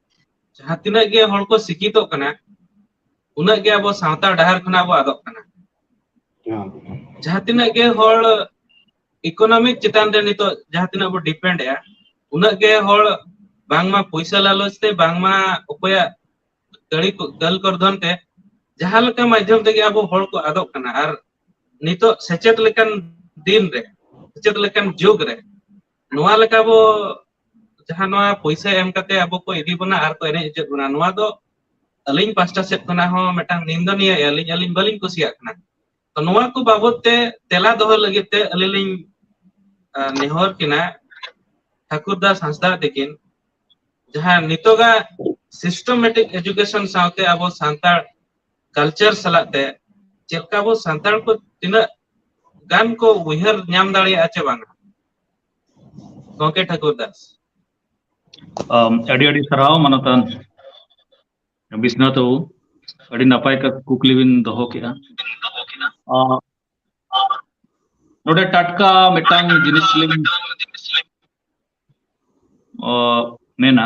ᱡᱟᱦᱟᱸ ᱛᱤᱱᱟᱹᱜ ᱜᱮ ᱦᱚᱲ ᱠᱚ ᱥᱤᱠᱠᱷᱤᱛᱚᱜ ᱠᱟᱱᱟ ᱩᱱᱟᱹᱜ ᱜᱮ ᱟᱵᱚ ᱥᱟᱶᱛᱟ ᱰᱟᱦᱟᱨ ᱠᱷᱚᱱᱟᱜ ᱵᱚ ᱟᱫᱚᱜ ᱠᱟᱱᱟ᱾ ᱡᱟᱦᱟᱸ ᱛᱤᱱᱟᱹᱜ ᱜᱮ ᱦᱚᱲ ᱤᱠᱳᱱᱚᱢᱤᱠ ᱪᱮᱛᱟᱱ ᱨᱮ ᱱᱤᱛᱚᱜ ᱡᱟᱦᱟᱸ ᱛᱤᱱᱟᱹᱜ ᱵᱚ ᱰᱤᱯᱮᱱᱰ ᱮᱼᱟ ᱩᱱᱟᱹᱜ ᱜᱮ ᱦᱚᱲ ᱵᱟᱝᱢᱟ ᱯᱚᱭᱥᱟ ᱞᱟᱞᱚᱪ ᱛᱮ ᱵᱟᱝᱢᱟ ᱚᱠᱚᱭᱟᱜ ᱠᱟᱹᱲᱤ ᱠᱚ ᱫᱟᱹᱞ ᱠᱚᱨᱫᱷᱚᱱ ᱛᱮ ᱡᱟᱦᱟᱸ ᱞᱮᱠᱟ ᱢᱟᱫᱽᱫᱷᱚᱢ ᱛᱮᱜᱮ ᱟᱵᱚ ᱦᱚᱲ ᱠᱚ ᱟᱫᱚᱜ ᱠᱟᱱᱟ ᱟᱨ ᱱᱤᱛᱚᱜ ᱥᱮᱪᱮᱫ ᱞᱮᱠᱟᱱ ᱫᱤᱱ ᱨᱮ ᱥᱮᱪᱮᱫ ᱞᱮᱠᱟᱱ ᱡᱩᱜᱽ ᱨᱮ ᱱᱚᱣᱟ ᱞᱮᱠᱟ ᱵᱚ ᱡᱟᱦᱟᱸ ᱱᱚᱣᱟ ᱯᱩᱭᱥᱟᱹ ᱮᱢ ᱠᱟᱛᱮ ᱟᱵᱚ ᱠᱚ ᱤᱫᱤ ᱵᱚᱱᱟ ᱟᱨ ᱠᱚ ᱮᱱᱮᱡ ᱦᱚᱪᱚᱭᱮᱫ ᱵᱚᱱᱟ ᱱᱚᱣᱟ ᱫᱚ ᱟᱹᱞᱤᱧ ᱯᱟᱥᱴᱟ ᱥᱮᱫ ᱠᱷᱚᱱᱟᱜ ᱦᱚᱸ ᱢᱤᱫᱴᱟᱝ ᱱᱤᱱᱫᱚ ᱱᱤᱭᱟᱹ ᱟᱹᱞᱤᱧ ᱟᱹᱞᱤᱧ ᱵᱟᱹᱞᱤᱧ ᱠᱩᱥᱤᱭᱟᱜ ᱠᱟᱱᱟ ᱛᱚ ᱱᱚᱣᱟ ᱠᱚ ᱵᱟᱵᱚᱛ ᱛᱮ ᱛᱮᱞᱟ ᱫᱚᱦᱚ ᱞᱟᱹᱜᱤᱫ ᱛᱮ ᱟᱹᱞᱤᱧ ᱞᱤᱧ ᱱᱮᱦᱚᱨ ᱠᱤᱱᱟ ᱴᱷᱟᱠᱩᱨ ᱫᱟᱥ ᱦᱟᱸᱥᱫᱟ ᱛᱤᱠᱤᱱ ᱡᱟᱦᱟᱸ ᱱᱤᱛᱚᱜᱟᱜ ᱥᱤᱥᱴᱚᱢᱮᱴᱤᱠ ᱮᱡᱩᱠᱮᱥᱚᱱ ᱥᱟᱶᱛᱮ ᱟᱵᱚ ᱥᱟᱱᱛᱟᱲ ᱠᱟᱞᱪᱟᱨ ᱥᱟᱞᱟᱜ ᱛᱮ ᱪᱮᱫᱠᱟ ᱵᱚ ᱥᱟᱱᱛᱟᱲ ᱠᱚ ᱛᱤᱱᱟᱹᱜ ᱜᱟᱱ ᱠᱚ ᱩᱭᱦᱟᱹᱨ ᱧᱟᱢ ᱫᱟᱲᱮᱭᱟᱜᱼᱟ ᱪᱮ ᱵᱟᱝᱟ ᱜᱚᱝᱠᱮ ᱴᱷᱟᱠᱩᱨ ᱫᱟᱥ ᱟᱢ ᱟᱹᱰᱤ ᱟᱹᱰᱤ ᱥᱟᱨᱦᱟᱣ ᱢᱟᱱᱚᱛᱟᱱ ᱵᱤᱥᱱᱟᱛᱷ ᱵᱟᱵᱩ ᱟᱹᱰᱤ ᱱᱟᱯᱟᱭ ᱠᱟ ᱠᱩᱠᱞᱤ ᱵᱤᱱ ᱫᱚᱦᱚ ᱠᱮᱜᱼᱟ ᱟ ᱱᱚᱰᱮ ᱴᱟᱴᱠᱟ ᱢᱤᱫᱴᱟᱝ ᱡᱤᱱᱤᱥ ᱞᱤᱧ ᱚ ᱢᱮᱱᱟ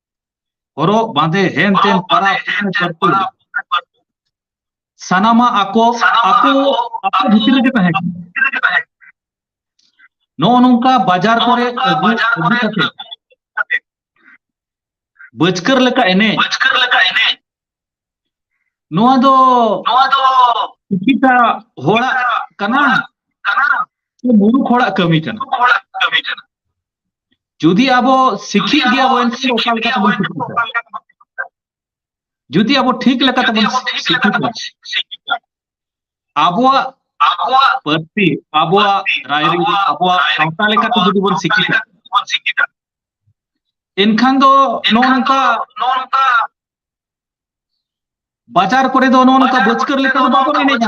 ᱦᱚᱨᱚᱜ ᱵᱟᱸᱫᱮ ᱦᱮᱱ ᱛᱮᱱ ᱯᱟᱨᱟᱵᱽ ᱥᱟᱱᱟᱢᱟᱜ ᱟᱠᱚ ᱟᱠᱚ ᱟᱠᱚ ᱵᱷᱤᱛᱤᱨ ᱨᱮᱜᱮ ᱛᱟᱦᱮᱸ ᱠᱟᱱᱟ ᱱᱚᱜᱼᱚ ᱱᱚᱝᱠᱟ ᱵᱟᱡᱟᱨ ᱠᱚᱨᱮ ᱟᱹᱜᱩ ᱟᱹᱜᱩ ᱠᱟᱛᱮ ᱵᱟᱹᱪᱠᱟᱹᱨ ᱞᱮᱠᱟ ᱮᱱᱮᱡ ᱱᱚᱣᱟ ᱫᱚ ᱱᱚᱣᱟ ᱫᱚ ᱠᱤᱪᱷᱩᱴᱟ ᱦᱚᱲᱟᱜ ᱠᱟᱱᱟ ᱠᱟᱱᱟ ᱥᱮ ᱢᱩᱨᱩᱠ ᱦᱚᱲᱟᱜ ᱠᱟᱹᱢᱤ ᱠᱟᱱᱟ ᱦᱚᱲᱟᱜ ᱠᱟᱹᱢᱤ ᱠᱟᱱᱟ ᱡᱩᱫᱤ ᱟᱵᱚ ᱥᱤᱠᱷᱤᱛ ᱜᱮᱭᱟ ᱵᱚᱱ ᱮᱱᱠᱷᱟᱱ ᱚᱠᱟ ᱞᱮᱠᱟ ᱛᱮᱵᱚᱱ ᱥᱤᱠᱷᱤᱛᱟ ᱡᱩᱫᱤ ᱟᱵᱚ ᱴᱷᱤᱠ ᱞᱮᱠᱟ ᱛᱮᱵᱚᱱ ᱥᱤᱠᱷᱤᱛᱟ ᱟᱵᱚᱣᱟᱜ ᱟᱵᱚᱣᱟᱜ ᱯᱟᱹᱨᱥᱤ ᱟᱵᱚᱣᱟᱜ ᱨᱟᱭᱨᱤᱛ ᱟᱵᱚᱣᱟᱜ ᱥᱟᱶᱛᱟ ᱞᱮᱠᱟᱛᱮ ᱡᱩᱫᱤ ᱵᱚᱱ ᱥᱤᱠᱷᱤᱛᱟ ᱮᱱᱠᱷᱟᱱ ᱫᱚ ᱱᱚᱜᱼᱚ ᱱᱚᱝᱠᱟ ᱱᱚᱜᱼᱚ ᱱᱚᱝᱠᱟ ᱵᱟᱡᱟᱨ ᱠᱚᱨᱮ ᱫᱚ ᱱᱚᱜᱼᱚ ᱱᱚᱝᱠᱟ ᱵᱟᱹᱪᱠᱟᱹᱨ ᱞᱮᱠᱟ ᱫᱚ ᱵᱟᱵᱚᱱ ᱮᱱᱮᱡᱟ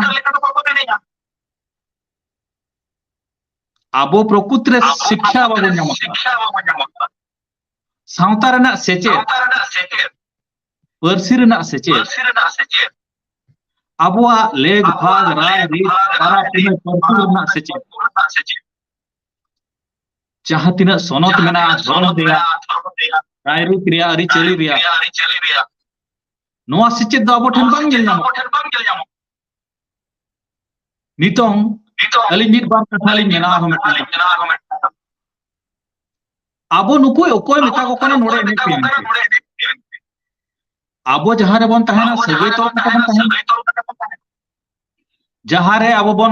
ᱟᱵᱚ ᱯᱨᱚᱠᱩᱛ ᱨᱮ ᱥᱤᱠᱠᱷᱟ ᱵᱟᱵᱚᱱ ᱧᱟᱢ ᱟᱠᱟᱫᱟ ᱥᱟᱶᱛᱟ ᱨᱮᱱᱟᱜ ᱥᱮᱪᱮᱫ ᱯᱟᱹᱨᱥᱤ ᱨᱮᱱᱟᱜ ᱥᱮᱪᱮᱫ ᱟᱵᱚᱣᱟᱜ ᱞᱮᱜ ᱵᱷᱟᱜ ᱨᱟᱭ ᱨᱤᱛ ᱯᱟᱨᱟ ᱯᱩᱱᱟᱹᱭ ᱯᱟᱹᱨᱥᱤ ᱨᱮᱱᱟᱜ ᱥᱮᱪᱮᱫ ᱡᱟᱦᱟᱸ ᱛᱤᱱᱟᱹᱜ ᱥᱚᱱᱚᱛ ᱢᱮᱱᱟᱜᱼᱟ ᱫᱷᱚᱨᱚᱢ ᱨᱮᱭᱟᱜ ᱨᱟᱭᱨᱤᱛ ᱨᱮᱭᱟᱜ ᱟᱹᱨᱤᱪᱟᱹᱞᱤ ᱨᱮᱭᱟᱜ ᱱᱚᱣᱟ ᱥᱮᱪᱮᱫ ᱫᱚ ᱟᱵᱚ ᱴᱷᱮᱱ ᱵᱟᱝ ᱧᱮᱞ ᱧᱟᱢᱚᱜ ᱱᱤᱛᱚᱝ ᱟᱹᱞᱤᱧ ᱢᱤᱫ ᱵᱟᱨ ᱠᱟᱛᱷᱟ ᱞᱤᱧ ᱢᱮᱱᱟ ᱟᱨᱦᱚᱸ ᱢᱤᱫᱴᱟᱝ ᱟᱵᱚ ᱱᱩᱠᱩ ᱚᱠᱚᱭ ᱢᱮᱛᱟ ᱠᱚ ᱠᱟᱱᱟ ᱱᱚᱰᱮ ᱮᱱᱮᱡ ᱯᱮ ᱟᱵᱚ ᱡᱟᱦᱟᱸ ᱨᱮᱵᱚᱱ ᱛᱟᱦᱮᱱᱟ ᱥᱟᱹᱜᱟᱹᱭ ᱛᱚᱞ ᱠᱟᱛᱮ ᱵᱚᱱ ᱛᱟᱦᱮᱱᱟ ᱡᱟᱦᱟᱸ ᱨᱮ ᱟᱵᱚ ᱵᱚᱱ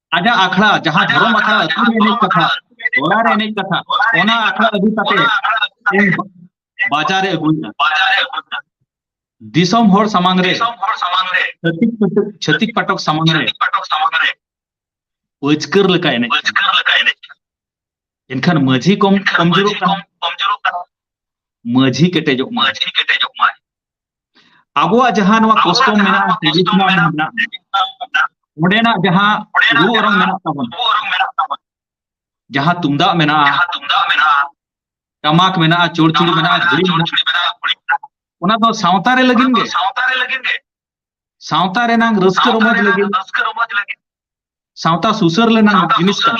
ᱟᱡᱟᱜ ᱟᱠᱷᱲᱟ ᱡᱟᱦᱟᱸ ᱫᱷᱚᱨᱚᱢ ᱟᱠᱷᱲᱟ ᱟᱹᱛᱩ ᱨᱮ ᱮᱱᱮᱡ ᱠᱟᱛᱷᱟ ᱴᱚᱞᱟ ᱨᱮ ᱮᱱᱮᱡ ᱠᱟᱛᱷᱟ ᱚᱱᱟ ᱟᱠᱷᱲᱟ ᱟᱹᱜᱩ ᱠᱟᱛᱮ ᱤᱧ ᱵᱟᱡᱟᱨ ᱨᱮ ᱟᱹᱜᱩᱭᱮᱫᱟ ᱫᱤᱥᱚᱢ ᱦᱚᱲ ᱥᱟᱢᱟᱝ ᱨᱮ ᱪᱷᱟᱹᱛᱤᱠ ᱯᱟᱴᱚᱠ ᱪᱷᱟᱹᱛᱤᱠ ᱯᱟᱴᱚᱠ ᱥᱟᱢᱟᱝ ᱨᱮ ᱯᱟᱹᱪᱠᱟᱹᱨ ᱞᱮᱠᱟ ᱮᱱᱮᱡ ᱮᱱᱠᱷᱟᱱ ᱢᱟᱹᱡᱷᱤ ᱠᱚᱢ ᱠᱚᱢᱡᱳᱨᱚᱜ ᱠᱟᱱᱟ ᱢᱟᱹᱡᱷᱤ ᱠᱮᱴᱮᱡᱚᱜ ᱢᱟᱹᱡᱷᱤ ᱠᱮᱴᱮᱡᱚᱜ ᱢᱟᱭ ᱟᱵᱚᱣᱟᱜ ᱡᱟᱦᱟᱸ ᱱᱚᱣᱟ ᱠᱚᱥᱴᱚᱢ ᱢᱮᱱᱟᱜᱼᱟ ᱴᱨᱮᱰᱤᱥᱚᱱᱟᱞ ᱢᱮᱱᱟᱜᱼᱟ ᱚᱸᱰᱮᱱᱟᱜ ᱡᱟᱦᱟᱸ ᱨᱩ ᱚᱨᱚᱝ ᱢᱮᱱᱟᱜ ᱛᱟᱵᱚᱱᱟ ᱡᱟᱦᱟᱸ ᱛᱩᱢᱫᱟᱜ ᱢᱮᱱᱟᱜᱼᱟ ᱴᱟᱢᱟᱠ ᱢᱮᱱᱟᱜᱼᱟ ᱪᱚᱲᱪᱩᱲᱤ ᱢᱮᱱᱟᱜᱼᱟ ᱜᱷᱩᱲᱤ ᱢᱮᱱᱟᱜᱼᱟ ᱚᱱᱟ ᱫᱚ ᱥᱟᱶᱛᱟ ᱨᱮ ᱞᱟᱹᱜᱤᱫ ᱜᱮ ᱥᱟᱶᱛᱟ ᱨᱮ ᱞᱟᱹᱜᱤᱫ ᱜᱮ ᱥᱟᱶᱛᱟ ᱨᱮᱱᱟᱝ ᱨᱟᱹᱥᱠᱟᱹ ᱨᱚᱢᱚᱡᱽ ᱞᱟᱹᱜᱤᱫ ᱨᱟᱹᱥᱠᱟᱹ ᱨᱚᱢᱚᱡᱽ ᱞᱟᱹᱜᱤᱫ ᱥᱟᱶᱛᱟ ᱥᱩᱥᱟᱹᱨ ᱞᱮᱱᱟᱝ ᱡᱤᱱᱤᱥ ᱠᱟᱱᱟ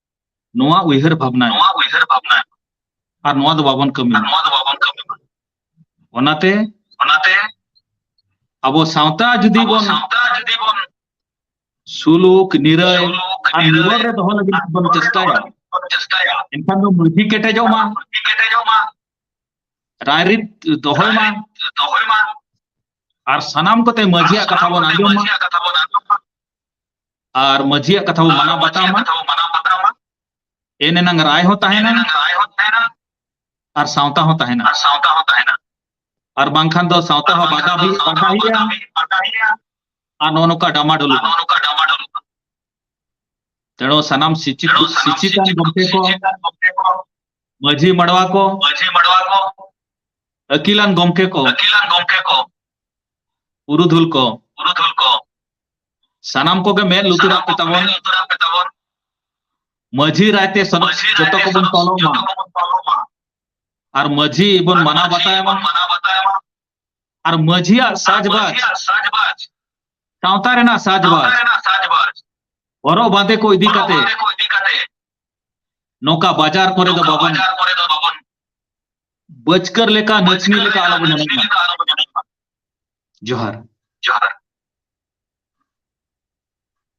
ᱱᱚᱣᱟ ᱩᱭᱦᱟᱹᱨ ᱵᱷᱟᱵᱽᱱᱟ ᱱᱚᱣᱟ ᱩᱭᱦᱟᱹᱨ ᱵᱷᱟᱵᱽᱱᱟ ᱟᱨ ᱱᱚᱣᱟ ᱫᱚ ᱵᱟᱵᱚᱱ ᱠᱟᱹᱢᱤ ᱱᱚᱣᱟ ᱫᱚ ᱵᱟᱵᱚᱱ ᱠᱟᱹᱢᱤ ᱚᱱᱟᱛᱮ ᱚᱱᱟᱛᱮ ᱟᱵᱚ ᱥᱟᱶᱛᱟ ᱡᱩᱫᱤ ᱵᱚᱱ ᱥᱟᱶᱛᱟ ᱡᱩᱫᱤ ᱵᱚᱱ ᱥᱩᱞᱩᱠ ᱱᱤᱨᱟᱹᱭ ᱟᱨ ᱱᱤᱨᱟᱹᱭ ᱨᱮ ᱫᱚᱦᱚ ᱞᱟᱹᱜᱤᱫ ᱵᱚᱱ ᱪᱮᱥᱴᱟᱭᱟ ᱪᱮᱥᱴᱟᱭᱟ ᱮᱱᱠᱷᱟᱱ ᱫᱚ ᱢᱟᱹᱡᱷᱤ ᱠᱮᱴᱮᱡᱚᱜ ᱢᱟ ᱢᱟᱹᱡᱷᱤ ᱠᱮᱴᱮᱡᱚᱜ ᱢᱟ ᱨᱟᱭᱨᱤᱛ ᱫᱚᱦᱚᱭ ᱢᱟ ᱫᱚᱦᱚᱭ ᱢᱟ ᱟᱨ ᱥᱟᱱᱟᱢ ᱠᱚᱛᱮ ᱢᱟᱹᱡᱷᱤᱭᱟᱜ ᱠᱟᱛᱷᱟ ᱵᱚᱱ ᱟᱸᱡᱚᱢ ᱢᱟ ᱟᱨ ᱢᱟᱹᱡᱷᱤᱭᱟᱜ ᱠᱟᱛᱷᱟ ᱵᱚ ᱢᱟᱱᱟᱣ ᱵᱟᱛᱟᱣᱟ ᱮᱱ ᱮᱱᱟᱝ ᱨᱟᱭ ᱦᱚᱸ ᱛᱟᱦᱮᱱᱟ ᱟᱨ ᱥᱟᱶᱛᱟ ᱦᱚᱸ ᱛᱟᱦᱮᱱᱟ ᱟᱨ ᱥᱟᱶᱛᱟ ᱦᱚᱸ ᱛᱟᱦᱮᱱᱟ ᱟᱨ ᱵᱟᱝᱠᱷᱟᱱ ᱫᱚ ᱥᱟᱶᱛᱟ ᱦᱚᱸ ᱵᱟᱫᱷᱟ ᱦᱩᱭᱩᱜᱼᱟ ᱟᱨ ᱱᱚᱜᱼᱚ ᱱᱚᱝᱠᱟ ᱰᱟᱢᱟᱰᱳᱞ ᱱᱚᱜᱼᱚ ᱱᱚᱝᱠᱟ ᱰᱟᱢᱟᱰᱳᱞ ᱛᱮᱬᱚ ᱥᱟᱱᱟᱢ ᱥᱤᱪᱤᱛ ᱥᱤᱪᱤᱛᱟᱱ ᱜᱚᱢᱠᱮ ᱠᱚ ᱢᱟᱹᱡᱷᱤ ᱢᱟᱰᱣᱟ ᱠᱚ ᱢᱟᱹᱡᱷᱤ ᱢᱟᱰᱣᱟ ᱠᱚ ᱟᱹᱠᱤᱞᱟᱱ ᱜᱚᱢᱠᱮ ᱠᱚ ᱟᱹᱠᱤᱞᱟᱱ ᱜᱚᱢᱠᱮ ᱠᱚ ᱯᱩᱨᱩᱫᱷᱩᱞ ᱠᱚ ᱯᱩᱨᱩᱫᱷᱩᱞ ᱠᱚ ᱥᱟᱱᱟᱢ ᱠᱚᱜᱮ ᱢᱮᱫ ᱞᱩᱛᱩᱨᱟᱜ ᱯᱮ ᱛᱟᱵᱚᱱ ᱢᱟᱹᱡᱷᱤ ᱨᱟᱭᱛᱮ ᱥᱟᱱᱟᱢ ᱡᱚᱛᱚ ᱠᱚᱵᱚᱱ ᱯᱟᱞᱚᱱ ᱢᱟ ᱟᱨ ᱢᱟᱹᱡᱷᱤ ᱵᱚᱱ ᱢᱟᱱᱟᱣ ᱵᱟᱛᱟᱭ ᱢᱟ ᱟᱨ ᱢᱟᱹᱡᱷᱤᱭᱟᱜ ᱥᱟᱡᱽᱵᱟᱡᱽ ᱥᱟᱶᱛᱟ ᱨᱮᱱᱟᱜ ᱥᱟᱡᱽᱵᱟᱡᱽ ᱦᱚᱨᱚᱜ ᱵᱟᱸᱫᱮ ᱠᱚ ᱤᱫᱤ ᱠᱟᱛᱮ ᱱᱚᱝᱠᱟ ᱵᱟᱡᱟᱨ ᱠᱚᱨᱮ ᱫᱚ ᱵᱟᱵᱚᱱ ᱵᱟᱹᱪᱠᱟᱹᱨ ᱞᱮᱠᱟ ᱱᱟᱹᱪᱱᱤ ᱞᱮᱠᱟ ᱟᱞᱚᱵᱚᱱ ᱮᱱᱮᱡ ᱢᱟ ᱡᱚᱦᱟᱨ ᱡᱚᱦᱟᱨ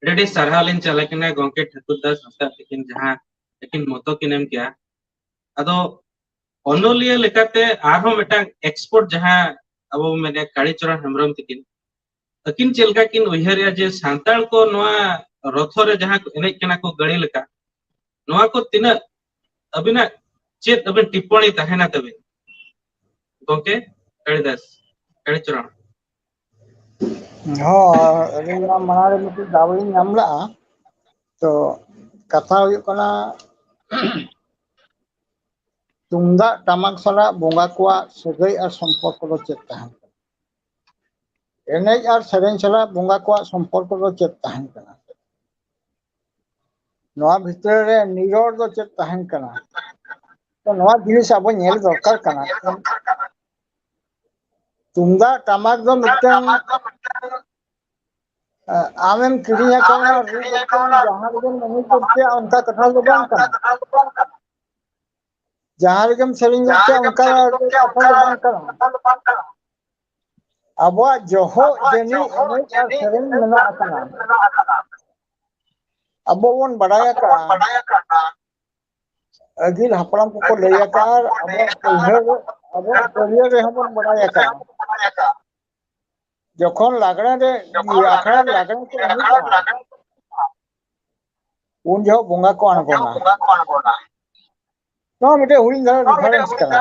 ᱟᱹᱰᱤ ᱟᱹᱰᱤ ᱥᱟᱨᱦᱟᱣ ᱞᱤᱧ ᱪᱟᱞ ᱟᱠᱤᱱᱟ ᱜᱚᱝᱠᱮ ᱴᱷᱟᱹᱠᱩᱨ ᱫᱟᱥ ᱦᱟᱸᱥᱫᱟᱜ ᱛᱤᱠᱤᱱ ᱡᱟᱦᱟᱸ ᱟᱹᱠᱤᱱ ᱢᱚᱛᱚ ᱠᱤᱱ ᱮᱢ ᱠᱮᱭᱟ ᱟᱫᱚ ᱚᱱᱚᱞᱤᱭᱟᱹ ᱞᱮᱠᱟᱛᱮ ᱟᱨᱦᱚᱸ ᱢᱤᱫᱴᱟᱝ ᱮᱠᱥᱯᱳᱨᱴ ᱡᱟᱦᱟᱸ ᱟᱵᱚ ᱵᱚᱱ ᱢᱮᱱᱮᱫ ᱠᱟᱲᱤᱪᱚᱨᱚᱱ ᱦᱮᱢᱵᱨᱚᱢ ᱛᱤᱠᱤᱱ ᱟᱹᱠᱤᱱ ᱪᱮᱫ ᱞᱮᱠᱟ ᱠᱤᱱ ᱩᱭᱦᱟᱹᱨᱮᱜᱼᱟ ᱡᱮ ᱥᱟᱱᱛᱟᱲ ᱠᱚ ᱱᱚᱣᱟ ᱨᱚᱛᱷᱚ ᱨᱮ ᱡᱟᱦᱟᱸ ᱠᱚ ᱮᱱᱮᱡ ᱠᱟᱱᱟ ᱠᱚ ᱜᱟᱹᱲᱤ ᱞᱮᱠᱟ ᱱᱚᱣᱟ ᱠᱚ ᱛᱤᱱᱟᱹᱜ ᱟᱹᱵᱤᱱᱟᱜ ᱪᱮᱫ ᱟᱹᱵᱤᱱ ᱴᱤᱯᱯᱚᱬᱤ ᱛᱟᱦᱮᱱᱟ ᱛᱟᱹᱵᱤᱱ ᱜᱚᱝᱠᱮ ᱠᱟᱲᱤᱫᱟᱥ ᱠᱟᱲᱤᱪᱚᱨᱚᱱ ᱦᱚᱸ ᱟᱹᱞᱤᱧ ᱢᱟ ᱢᱟᱲᱟᱝ ᱨᱮ ᱢᱤᱫᱴᱤᱡ ᱫᱟᱣ ᱞᱤᱧ ᱧᱟᱢ ᱞᱟᱜᱼᱟ ᱛᱚ ᱠᱟᱛᱷᱟ ᱦᱩᱭᱩᱜ ᱠᱟᱱᱟ ᱛᱩᱢᱫᱟᱜ ᱴᱟᱢᱟᱠ ᱥᱟᱞᱟᱜ ᱵᱚᱸᱜᱟ ᱠᱚᱣᱟᱜ ᱥᱟᱹᱜᱟᱹᱭ ᱟᱨ ᱥᱚᱢᱯᱚᱨᱠᱚ ᱫᱚ ᱪᱮᱫ ᱛᱟᱦᱮᱸᱱ ᱠᱟᱱᱟ? ᱮᱱᱮᱡ ᱟᱨ ᱥᱮᱨᱮᱧ ᱥᱟᱞᱟᱜ ᱵᱚᱸᱜᱟ ᱠᱚᱣᱟᱜ ᱥᱚᱢᱯᱚᱨᱠᱚ ᱫᱚ ᱪᱮᱫ ᱛᱟᱦᱮᱸᱱ ᱠᱟᱱᱟ? ᱱᱚᱣᱟ ᱵᱷᱤᱛᱟᱹᱨ ᱨᱮ ᱱᱤᱨᱚᱲ ᱫᱚ ᱪᱮᱫ ᱛᱟᱦᱮᱸᱱ ᱠᱟᱱᱟ? ᱛᱚ ᱱᱚᱣᱟ ᱡᱤᱱᱤᱥ ᱟᱵᱚ ᱧᱮᱞ ᱫᱚᱨᱠᱟᱨ ᱠᱟᱱᱟ ᱛᱚ ᱛᱩᱢᱫᱟᱜ ᱴᱟᱢᱟᱠ ᱫᱚ ᱢᱤᱫᱴᱟᱝ ᱟᱢᱮᱢ ᱠᱤᱨᱤᱧ ᱟᱠᱟᱣᱱᱟ ᱨᱩ ᱠᱟᱛᱮᱢ ᱡᱟᱦᱟᱸ ᱨᱮᱜᱮᱢ ᱮᱱᱮᱡ ᱜᱚᱫ ᱠᱮᱜᱼᱟ ᱚᱱᱠᱟ ᱠᱟᱛᱷᱟ ᱫᱚ ᱵᱟᱝ ᱠᱟᱱᱟ ᱡᱟᱦᱟᱸ ᱨᱮᱜᱮᱢ ᱥᱮᱨᱮᱧ ᱜᱚᱫ ᱠᱮᱜᱼᱟ ᱚᱱᱠᱟ ᱠᱟᱛᱷᱟ ᱫᱚ ᱵᱟᱝ ᱠᱟᱱᱟ ᱟᱵᱚᱣᱟᱜ ᱡᱚᱦᱚᱜ ᱡᱟᱹᱱᱤᱡ ᱮᱱᱮᱡ ᱟᱨ ᱥᱮᱨᱮᱧ ᱢᱮᱱᱟᱜ ᱟᱠᱟᱫᱟ ᱟᱵᱚ ᱵᱚᱱ ᱵᱟᱰᱟᱭ ᱟᱠᱟᱜᱼᱟ ᱟᱹᱜᱤᱞ ᱦᱟᱯᱲᱟᱢ ᱠᱚᱠᱚ ᱞᱟᱹᱭ ᱟᱠᱟᱫ ᱟᱵᱚᱣᱟᱜ ᱯᱟᱹᱭᱦᱟᱹ ᱟᱵᱚᱣᱟᱜ ᱯᱟᱹᱨᱭᱟᱹ ᱨᱮᱦᱚᱸ ᱵᱚᱱ ᱵᱟᱲᱟᱭ ᱟᱠᱟᱫ ᱡᱚᱠᱷᱚᱱ ᱞᱟᱜᱽᱬᱮ ᱨᱮ ᱤᱭᱟᱹ ᱟᱠᱷᱲᱟ ᱨᱮ ᱞᱟᱜᱽᱬᱮ ᱠᱚ ᱮᱱᱮᱡᱟ ᱩᱱ ᱡᱚᱦᱚᱜ ᱵᱚᱸᱜᱟ ᱠᱚ ᱟᱬᱜᱚᱱᱟ ᱱᱚᱣᱟ ᱢᱤᱫᱴᱮᱡ ᱦᱩᱰᱤᱧ ᱫᱷᱟᱨᱟ ᱨᱤᱯᱷᱟᱨᱮᱱᱥ ᱠᱟᱱᱟ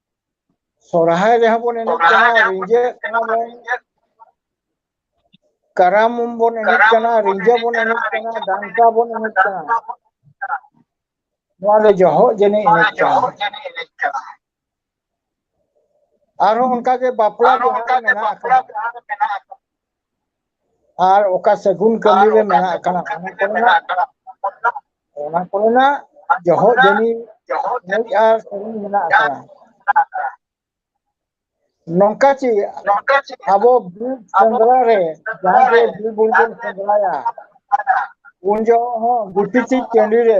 ᱥᱚᱨᱦᱟᱭ ᱨᱮᱦᱚᱸ ᱵᱚᱱ ᱮᱱᱮᱡ ᱠᱟᱱᱟ ᱨᱤᱸᱡᱟᱹᱜ ᱠᱟᱱᱟ ᱵᱚᱱ ᱠᱟᱨᱟᱢ ᱵᱚᱱ ᱮᱱᱮᱡ ᱠᱟᱱᱟ ᱨᱤᱸᱡᱟᱹ ᱵᱚᱱ ᱮᱱᱮᱡ ᱠᱟᱱᱟ ᱰᱟᱱᱴᱟ ᱵᱚᱱ ᱮᱱᱮᱡ ᱠᱟᱱᱟ ᱱᱚᱣᱟ ᱫᱚ ᱡᱚᱦᱚᱜ ᱡᱟᱹᱱᱤᱡ ᱮᱱᱮᱡ ᱠᱟᱱᱟ ᱟᱨᱦᱚᱸ ᱚᱱᱠᱟᱜᱮ ᱵᱟᱯᱞᱟ ᱵᱤᱦᱟᱨ ᱨᱮ ᱢᱮᱱᱟᱜ ᱟᱠᱟᱫᱟ ᱟᱨ ᱚᱠᱟ ᱥᱟᱹᱜᱩᱱ ᱠᱟᱹᱢᱤ ᱨᱮ ᱢᱮᱱᱟᱜ ᱟᱠᱟᱱᱟ ᱚᱱᱟ ᱠᱚᱨᱮᱱᱟᱜ ᱚᱱᱟ ᱠᱚᱨᱮᱱᱟᱜ ᱡᱚᱦᱚᱜ ᱡᱟᱹᱱᱤ ᱢᱩᱡ ᱟᱨ ᱥᱟᱹᱜᱩᱱ ᱢᱮᱱᱟᱜ ᱟᱠᱟᱫᱟ ᱱᱚᱝᱠᱟ ᱪᱮ ᱟᱵᱚ ᱵᱤᱨ ᱥᱮᱸᱫᱽᱨᱟ ᱨᱮ ᱡᱟᱦᱟᱸ ᱜᱮ ᱵᱤᱨ ᱵᱩᱨᱩ ᱵᱚᱱ ᱥᱮᱸᱫᱽᱨᱟᱭᱟ ᱩᱱ ᱡᱚᱦᱚᱜ ᱦᱚᱸ ᱜᱩᱴᱤ ᱪᱮ ᱴᱟᱺᱰᱤ ᱨᱮ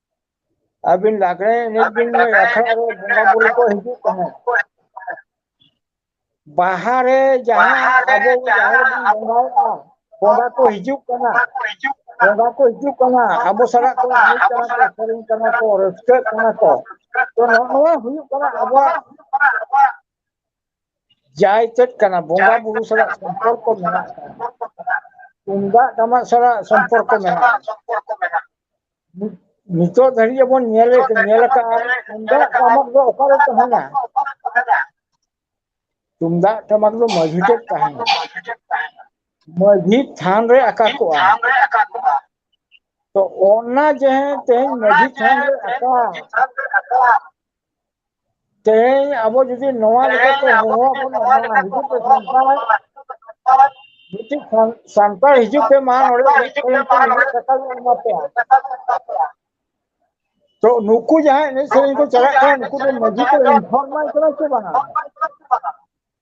ᱟᱹᱵᱤᱱ ᱞᱟᱜᱽᱲᱮ ᱮᱱᱮᱡ ᱵᱤᱱ ᱞᱟᱹᱭ ᱟᱠᱷᱲᱟ ᱨᱮ ᱵᱚᱸᱜᱟ ᱵᱩᱨᱩ ᱠᱚ ᱦᱤᱡᱩᱜ ᱛᱟᱦᱮᱸᱫ ᱵᱟᱦᱟ ᱨᱮ ᱡᱟᱦᱟᱸ ᱟᱵᱚ ᱡᱟᱦᱮᱨ ᱨᱮᱵᱚᱱ ᱵᱚᱸᱜᱟᱭᱮᱫᱼᱟ ᱵᱚᱸᱜᱟ ᱠᱚ ᱦᱤᱡᱩᱜ ᱠᱟᱱᱟ ᱵᱚᱸᱜᱟ ᱠᱚ ᱦᱤᱡᱩᱜ ᱠᱟᱱᱟ ᱟᱵᱚ ᱥᱟᱞᱟᱜ ᱠᱚ ᱮᱱᱮᱡ ᱠᱟᱱᱟ ᱠᱚ ᱥᱮᱨᱮᱧ ᱠᱟᱱᱟ ᱠᱚ ᱨᱟᱹᱥᱠᱟᱹᱜ ᱠᱟᱱᱟ ᱠᱚ ᱛᱚ ᱱᱚᱜᱼᱚ ᱱᱚᱣᱟ ᱦᱩᱭᱩᱜ ᱠᱟᱱᱟ ᱟᱵᱚᱣᱟᱜ ᱡᱟᱭ ᱪᱮᱫ ᱠᱟᱱᱟ ᱵᱚᱸᱜᱟ ᱵᱩᱨᱩ ᱥᱟᱞᱟᱜ ᱥᱚᱢᱯᱚᱨᱠᱚ ᱢᱮᱱᱟᱜ ᱟᱠᱟᱫᱟ ᱛᱩᱢᱫᱟᱜ ᱴᱟᱢᱟᱠ ᱥᱟᱞᱟᱜ ᱥᱚᱢᱯᱚᱨᱠᱚ ᱢᱮᱱᱟᱜᱼᱟ ᱱᱤᱛᱚᱜ ᱫᱷᱟᱹᱨᱤᱡ ᱵᱚᱱ ᱧᱮᱞ ᱧᱮᱞ ᱟᱠᱟᱫᱼᱟ ᱛᱩᱢᱫᱟᱜ ᱴᱟᱢᱟᱠ ᱫᱚ ᱚᱠᱟᱨᱮ ᱛᱟᱦᱮᱱᱟ ᱛᱩᱢᱫᱟᱜ ᱴᱟᱢᱟᱠ ᱫᱚ ᱢᱟᱹᱡᱷᱤ ᱴᱷᱮᱡ ᱛᱟᱦᱮᱱᱟ ᱢᱟᱹᱡᱷᱤ ᱛᱷᱟᱱ ᱨᱮ ᱟᱠᱟ ᱠᱚᱜᱼᱟ ᱛᱚ ᱚᱱᱟ ᱡᱟᱦᱟᱸ ᱛᱮᱦᱮᱧ ᱢᱟᱹᱡᱷᱤ ᱛᱷᱟᱱ ᱨᱮ ᱟᱠᱟ ᱛᱮᱦᱮᱧ ᱟᱵᱚ ᱡᱩᱫᱤ ᱱᱚᱣᱟ ᱞᱮᱠᱟᱛᱮ ᱦᱚᱦᱚᱣᱟ ᱵᱚᱱᱟ ᱢᱟ ᱦᱤᱡᱩᱜ ᱯᱮ ᱥᱟᱱᱛᱟᱲ ᱢᱤᱫᱴᱤᱡ ᱥᱟᱱ ᱥᱟᱱᱛᱟᱲ ᱦᱤᱡᱩᱜ ᱯᱮ ᱢᱟ ᱱᱚᱰᱮ ᱮᱱᱮᱡ ᱥᱮᱨᱮᱧ ᱯᱮ ᱱᱩᱱᱟᱹᱜ ᱴᱟᱠᱟ ᱞᱮ ᱮᱢᱟ ᱯᱮᱭᱟ ᱛᱚ ᱱᱩᱠᱩ ᱡᱟᱦᱟᱸᱭ ᱮᱱᱮᱡ ᱥᱮᱨᱮᱧ ᱠᱚ ᱪᱟᱞᱟᱜ ᱠᱟᱱᱟ ᱱᱩᱠᱩ ᱫᱚ ᱢᱟᱺᱡᱷᱤ ᱠᱚ ᱤᱱᱯᱷᱚᱨᱢ ᱟᱭ ᱠᱟᱱᱟ ᱥᱮ ᱵᱟᱝᱟ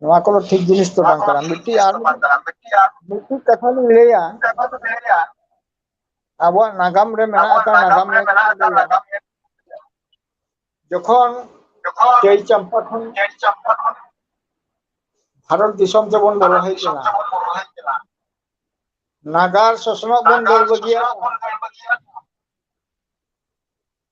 ᱱᱚᱣᱟ ᱠᱚᱫᱚ ᱴᱷᱤᱠ ᱡᱤᱱᱤᱥ ᱫᱚ ᱵᱟᱝ ᱠᱟᱱᱟ ᱢᱤᱫᱴᱤᱡ ᱟᱨ ᱢᱤᱫᱴᱤᱡ ᱠᱟᱛᱷᱟ ᱞᱤᱧ ᱞᱟᱹᱭᱟ ᱟᱵᱚᱣᱟᱜ ᱱᱟᱜᱟᱢ ᱨᱮ ᱢᱮᱱᱟᱜ ᱟᱠᱟᱫ ᱱᱟᱜᱟᱢ ᱨᱮ ᱡᱚᱠᱷᱚᱱ ᱪᱟᱹᱭ ᱪᱟᱢᱯᱟ ᱠᱷᱚᱱ ᱵᱷᱟᱨᱚᱛ ᱫᱤᱥᱚᱢ ᱛᱮᱵᱚᱱ ᱵᱚᱞᱚ ᱦᱮᱡ ᱞᱮᱱᱟ ᱱᱟᱜᱟᱨ ᱥᱚᱥᱱᱚᱜ ᱵᱚᱱ ᱫᱟᱹᱲ ᱵᱟᱹᱜᱤᱭᱟᱜᱼᱟ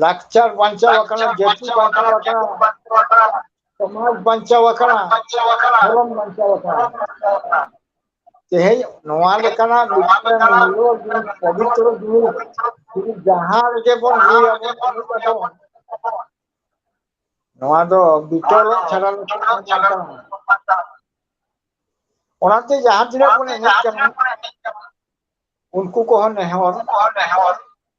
ᱞᱟᱠᱪᱟᱨ ᱵᱟᱧᱪᱟᱣ ᱟᱠᱟᱱᱟ ᱡᱟᱹᱛᱤ ᱵᱟᱧᱪᱟᱣ ᱟᱠᱟᱱᱟ ᱥᱚᱢᱟᱡᱽ ᱵᱟᱧᱪᱟᱣ ᱟᱠᱟᱱᱟ ᱫᱷᱚᱨᱚᱢ ᱵᱟᱧᱪᱟᱣ ᱟᱠᱟᱱᱟ ᱛᱮᱦᱮᱧ ᱱᱚᱣᱟ ᱞᱮᱠᱟᱱᱟᱜ ᱢᱤᱫᱴᱮᱱ ᱢᱩᱞᱞᱚ ᱡᱤᱱᱤᱥ ᱯᱚᱵᱤᱛᱨᱚ ᱡᱤᱱᱤᱥ ᱡᱩᱫᱤ ᱡᱟᱦᱟᱸ ᱨᱮᱜᱮ ᱵᱚᱱ ᱞᱟᱹᱭᱟ ᱵᱚᱱ ᱮᱱᱮᱡ ᱟᱵᱚᱱ ᱱᱚᱣᱟ ᱫᱚ ᱵᱤᱛᱚᱞᱚᱜ ᱪᱷᱟᱰᱟ ᱞᱮᱠᱷᱟᱱ ᱵᱟᱝ ᱠᱟᱱᱟ ᱚᱱᱟᱛᱮ ᱡᱟᱦᱟᱸ ᱛᱤᱱᱟᱹᱜ ᱵᱚᱱ ᱮᱱᱮᱡ ᱠᱟᱱᱟ ᱩᱱᱠᱩ ᱠᱚᱦᱚᱸ ᱱᱮᱦᱚᱨ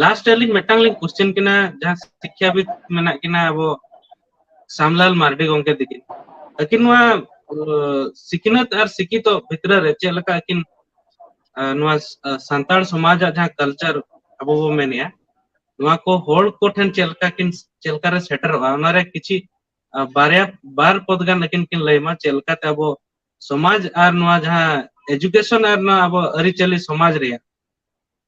ᱞᱟᱥᱴ ᱨᱮ ᱟᱹᱞᱤᱧ ᱢᱤᱫᱴᱟᱝ ᱞᱤᱧ ᱠᱚᱥᱪᱮᱱ ᱠᱤᱱᱟ ᱡᱟᱦᱟᱸ ᱥᱤᱠᱠᱷᱟᱵᱤᱫ ᱢᱮᱱᱟᱜ ᱠᱤᱱᱟ ᱟᱵᱚ ᱥᱟᱢᱞᱟᱞ ᱢᱟᱨᱰᱤ ᱜᱚᱝᱠᱮ ᱛᱤᱠᱤᱱ ᱟᱹᱠᱤᱱ ᱱᱚᱣᱟ ᱥᱤᱠᱷᱱᱟᱹᱛ ᱟᱨ ᱥᱤᱠᱷᱤᱛᱚ ᱵᱷᱤᱛᱨᱤ ᱨᱮ ᱪᱮᱫ ᱞᱮᱠᱟ ᱟᱹᱠᱤᱱ ᱱᱚᱣᱟ ᱥᱟᱱᱛᱟᱲ ᱥᱚᱢᱟᱡᱟᱜ ᱡᱟᱦᱟᱸ ᱠᱟᱞᱪᱟᱨ ᱟᱵᱚ ᱵᱚ ᱢᱮᱱᱮᱜᱼᱟ ᱱᱚᱣᱟ ᱠᱚ ᱦᱚᱲ ᱠᱚ ᱴᱷᱮᱱ ᱪᱮᱫ ᱞᱮᱠᱟ ᱠᱤᱱ ᱪᱮᱫ ᱞᱮᱠᱟ ᱨᱮ ᱥᱮᱴᱮᱨᱚᱜᱼᱟ ᱚᱱᱟ ᱨᱮ ᱠᱤᱪᱷᱤ ᱵᱟᱨᱭᱟ ᱵᱟᱨ ᱯᱚᱫ ᱜᱟᱱ ᱟᱹᱠᱤᱱ ᱠᱤᱱ ᱞᱟᱹᱭᱢᱟ ᱪᱮᱫ ᱞᱮᱠᱟᱛᱮ ᱟᱵᱚ ᱥᱚᱢᱟᱡᱽ ᱟᱨ ᱱᱚᱣᱟ ᱡᱟᱦᱟᱸ ᱮᱡᱩᱠᱮᱥᱚᱱ ᱟᱨ ᱱᱚᱣᱟ ᱟᱵᱚ ᱟᱹᱨᱤᱪᱟᱹᱞᱤ ᱥᱚᱢᱟᱡᱽ ᱨᱮᱭᱟᱜ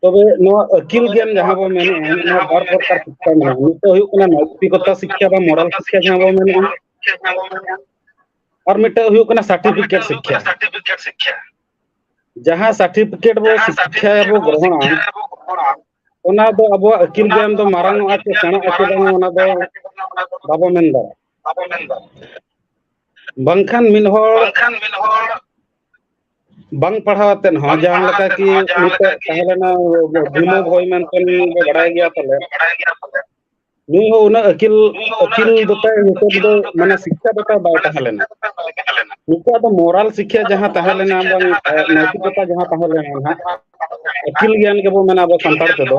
ᱛᱚᱵᱮ ᱱᱚᱣᱟ ᱟᱹᱠᱤᱞ ᱜᱮᱭᱟᱱ ᱡᱟᱦᱟᱸ ᱵᱚᱱ ᱢᱮᱱᱮᱫᱼᱟ ᱱᱚᱣᱟ ᱵᱟᱨ ᱯᱨᱚᱠᱟᱨ ᱥᱤᱠᱠᱷᱟ ᱢᱮᱱᱟᱜᱼᱟ ᱢᱤᱫ ᱫᱚ ᱦᱩᱭᱩᱜ ᱠᱟᱱᱟ ᱱᱳᱭᱛᱤᱠᱚᱛᱟ ᱥᱤᱠᱠᱷᱟ ᱵᱟ ᱢᱚᱨᱟᱞ ᱥᱤᱠᱠᱷᱟ ᱡᱟᱦᱟᱸ ᱵᱚᱱ ᱢᱮᱱᱮᱫᱼᱟ ᱟᱨ ᱢᱤᱫᱴᱮᱱ ᱦᱩᱭᱩᱜ ᱠᱟᱱᱟ ᱥᱟᱨᱴᱤᱯᱷᱤᱠᱮᱴ ᱥᱤᱠᱠᱷᱟ ᱡᱟᱦᱟᱸ ᱥᱟᱨᱴᱤᱯᱷᱤᱠᱮᱴ ᱵᱚ ᱥᱤᱠᱠᱷᱟ ᱵᱚ ᱜᱨᱚᱦᱚᱱᱟ ᱚᱱᱟ ᱫᱚ ᱟᱵᱚᱣᱟᱜ ᱟᱹᱠᱤᱞ ᱜᱮᱭᱟᱱ ᱫᱚ ᱢᱟᱨᱟᱝ ᱚᱜᱼᱟ ᱥᱮ ᱥᱮᱬᱟᱜ ᱟᱥᱮ ᱵᱟᱝ ᱚᱱᱟ ᱫᱚ ᱵᱟᱵᱚ ᱢᱮᱱ ᱫᱟᱲᱮᱭᱟᱜᱼᱟ ᱵᱟᱝᱠᱷᱟᱱ ᱢᱤᱫ ᱦᱚᱲ ᱵᱟᱝ ᱯᱟᱲᱦᱟᱣ ᱟᱛᱮᱫ ᱦᱚᱸ ᱡᱟᱦᱟᱸ ᱞᱮᱠᱟ ᱠᱤ ᱢᱤᱫᱴᱮᱡ ᱛᱟᱦᱮᱸ ᱞᱮᱱᱟ ᱵᱷᱤᱢᱚ ᱵᱷᱚᱭ ᱢᱮᱱᱛᱮ ᱵᱚ ᱵᱟᱲᱟᱭ ᱜᱮᱭᱟ ᱯᱟᱞᱮ ᱱᱩᱭ ᱦᱚᱸ ᱩᱱᱟᱹᱜ ᱟᱹᱠᱤᱞ ᱟᱹᱠᱤᱞ ᱫᱚᱛᱟᱭ ᱱᱤᱛᱚᱜ ᱫᱚ ᱢᱟᱱᱮ ᱥᱤᱠᱠᱷᱟ ᱫᱚᱛᱟᱭ ᱵᱟᱭ ᱛᱟᱦᱮᱸ ᱞᱮᱱᱟ ᱱᱩᱠᱩᱣᱟᱜ ᱫᱚ ᱢᱚᱨᱟᱞ ᱥᱤᱠᱷᱭᱟ ᱡᱟᱦᱟᱸ ᱛᱟᱦᱮᱸ ᱞᱮᱱᱟ ᱵᱟᱝ ᱱᱳᱭᱛᱤᱠᱚᱛᱟ ᱡᱟᱦᱟᱸ ᱛᱟᱦᱮᱸ ᱞᱮᱱᱟ ᱱᱟᱦᱟᱜ ᱟᱹᱠᱤᱞ ᱜᱮᱭᱟᱱ ᱜᱮᱵᱚᱱ ᱢᱮᱱᱟ ᱟᱵᱚ ᱥᱟᱱᱛᱟᱲ ᱛᱮᱫᱚ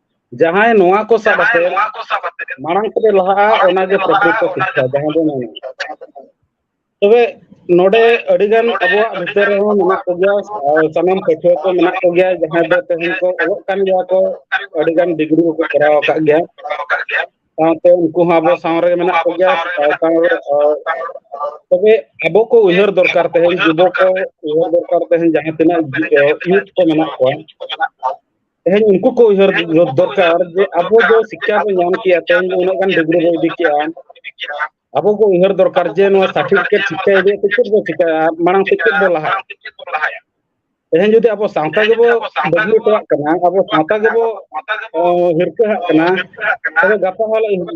ᱡᱟᱦᱟᱸᱭ ᱱᱚᱣᱟ ᱠᱚ ᱥᱟᱵ ᱠᱟᱛᱮ ᱢᱟᱲᱟᱝ ᱛᱮ ᱞᱟᱦᱟᱜᱼᱟ ᱚᱱᱟᱜᱮ ᱯᱨᱚᱠᱨᱤᱛ ᱥᱤᱠᱠᱷᱟ ᱡᱟᱦᱟᱸ ᱫᱚ ᱢᱮᱱᱟ ᱛᱚᱵᱮ ᱱᱚᱰᱮ ᱟᱹᱰᱤᱜᱟᱱ ᱟᱵᱚᱣᱟᱜ ᱵᱷᱤᱛᱟᱹᱨ ᱨᱮᱦᱚᱸ ᱢᱮᱱᱟᱜ ᱠᱚᱜᱮᱭᱟ ᱥᱟᱱᱟᱢ ᱯᱟᱹᱴᱷᱩᱣᱟᱹ ᱠᱚ ᱢᱮᱱᱟᱜ ᱠᱚᱜᱮᱭᱟ ᱡᱟᱦᱟᱸᱭ ᱫᱚ ᱛᱮᱦᱮᱧ ᱠᱚ ᱚᱞᱚᱜ ᱠᱟᱱ ᱜᱮᱭᱟ ᱠᱚ ᱟᱹᱰᱤᱜᱟᱱ ᱰᱤᱜᱽᱨᱤ ᱠᱚᱠᱚ ᱠᱚᱨᱟᱣ ᱟᱠᱟᱫ ᱜᱮᱭᱟ ᱥᱟᱶᱛᱮ ᱩᱱᱠᱩ ᱦᱚᱸ ᱟᱵᱚ ᱥᱟᱶ ᱨᱮᱜᱮ ᱢᱮᱱᱟᱜ ᱠᱚᱜᱮᱭᱟ ᱛᱚᱵᱮ ᱟᱵᱚ ᱠᱚ ᱩᱭᱦᱟᱹᱨ ᱫᱚᱨᱠᱟᱨ ᱛᱮᱦᱮᱧ ᱡᱩᱵᱚ ᱠᱚ ᱩᱭᱦᱟᱹᱨ ᱫᱚᱨᱠᱟᱨ ᱛᱮᱦᱮᱧ ᱡᱟᱦᱟᱸ ᱛᱤᱱᱟᱹᱜ ᱤᱭᱩᱛᱷ ᱠᱚ ᱢᱮᱱᱟᱜ ᱠᱚᱣᱟ ᱛᱮᱦᱮᱧ ᱩᱱᱠᱩ ᱠᱚ ᱩᱭᱦᱟᱹᱨ ᱫᱚᱨᱠᱟᱨ ᱡᱮ ᱟᱵᱚ ᱫᱚ ᱥᱤᱠᱠᱷᱟ ᱵᱚᱱ ᱧᱟᱢ ᱠᱮᱭᱟ ᱛᱮᱦᱮᱧ ᱫᱚ ᱩᱱᱟᱹᱜ ᱜᱟᱱ ᱰᱤᱜᱽᱨᱤ ᱵᱚᱱ ᱤᱫᱤ ᱠᱮᱜᱼᱟ ᱟᱵᱚ ᱠᱚ ᱩᱭᱦᱟᱹᱨ ᱫᱚᱨᱠᱟᱨ ᱡᱮ ᱱᱚᱣᱟ ᱥᱟᱨᱴᱤᱯᱷᱤᱠᱮᱴ ᱥᱤᱠᱠᱷᱟ ᱤᱫᱤ ᱠᱟᱛᱮ ᱪᱮᱫ ᱵᱚ ᱪᱤᱠᱟᱹᱭᱟ ᱢᱟᱲᱟᱝ ᱥᱮᱫ ᱪᱮᱫ ᱵᱚ ᱞᱟᱦᱟᱭᱟ ᱛᱮᱦᱮᱧ ᱡᱩᱫᱤ ᱟᱵᱚ ᱥᱟᱶᱛᱟ ᱜᱮᱵᱚ ᱵᱟᱹᱜᱤ ᱦᱚᱴᱚᱣᱟᱜ ᱠᱟᱱᱟ ᱟᱵᱚ ᱥᱟᱶᱛᱟ ᱜᱮᱵᱚ ᱦᱤᱨᱠᱟᱹᱦᱟᱜ ᱠᱟᱱᱟ ᱛᱚᱵᱮ ᱜᱟᱯᱟ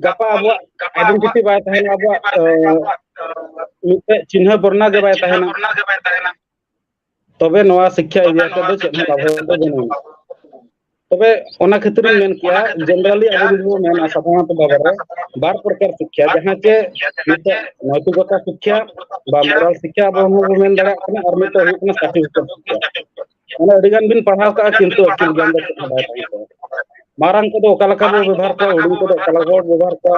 ᱜᱟᱯᱟ ᱟᱵᱚᱣᱟᱜ ᱟᱭᱰᱮᱱᱴᱤᱴᱤ ᱵᱟᱭ ᱛᱟᱦᱮᱱᱟ ᱟᱵᱚᱣᱟᱜ ᱢᱤᱫᱴᱮᱡ ᱪᱤᱱᱦᱟᱹ ᱵᱚᱨᱱᱟ ᱜᱮ ᱵᱟᱭ ᱛᱟᱦᱮᱱᱟ ᱛᱚᱵᱮ ᱱᱚᱣᱟ ᱥᱤᱠᱠᱷᱟ ᱮᱨᱤᱭᱟ ᱛᱮᱫᱚ ᱪᱮᱫ ᱦᱚᱸ ᱞᱟᱵᱷ ᱫᱚ ᱵᱟᱹᱱᱩᱜᱼᱟ ᱛᱚᱵᱮ ᱚᱱᱟ ᱠᱷᱟᱹᱛᱤᱨ ᱤᱧ ᱢᱮᱱ ᱠᱮᱭᱟ ᱡᱮᱱᱮᱨᱟᱞᱤ ᱟᱵᱚ ᱡᱩᱫᱤ ᱵᱚᱱ ᱢᱮᱱᱟ ᱥᱟᱫᱷᱟᱨᱚᱱᱛᱚ ᱵᱷᱟᱵᱮ ᱨᱮ ᱵᱟᱨ ᱯᱨᱚᱠᱟᱨ ᱥᱤᱠᱠᱷᱟ ᱡᱟᱦᱟᱸ ᱪᱮ ᱢᱤᱫᱴᱮᱡ ᱱᱳᱭᱛᱤᱠᱚᱛᱟ ᱥᱤᱠᱠᱷᱟ ᱵᱟ ᱢᱳᱨᱟᱞ ᱥᱤᱠᱠᱷᱟ ᱟᱵᱚ ᱦᱚᱸ ᱵᱚᱱ ᱢᱮᱱ ᱫᱟᱲᱮᱭᱟᱜ ᱠᱟᱱᱟ ᱟᱨ ᱢᱤᱫᱴᱮᱡ ᱦᱩᱭᱩᱜ ᱠᱟᱱᱟ ᱥᱟᱨᱴᱤᱯᱷᱤᱠᱮᱴ ᱥᱤᱠᱠᱷᱟ ᱢᱟᱱᱮ ᱟᱹᱰᱤ ᱜᱟᱱ ᱵᱤᱱ ᱯᱟᱲᱦᱟᱣ ᱠᱟᱜᱼᱟ ᱠᱤᱱᱛᱩ ᱟᱹᱠᱤᱞ ᱜᱮᱭᱟᱱ ᱫᱚ ᱪᱮᱫ ᱦᱚᱸ ᱵᱟᱭ ᱛᱟᱦᱮᱸ ᱠᱚᱜᱼᱟ ᱢᱟᱨᱟᱝ ᱠᱚᱫᱚ ᱚᱠᱟ ᱞᱮᱠᱟ ᱵᱚ ᱵᱮᱵᱚᱦᱟᱨ ᱠᱚᱣᱟ ᱦᱩᱰᱤᱧ ᱠᱚᱫᱚ ᱚᱠᱟ ᱞᱮᱠᱟ ᱵᱚ ᱵᱮᱵᱚᱦᱟᱨ ᱠᱚᱣᱟ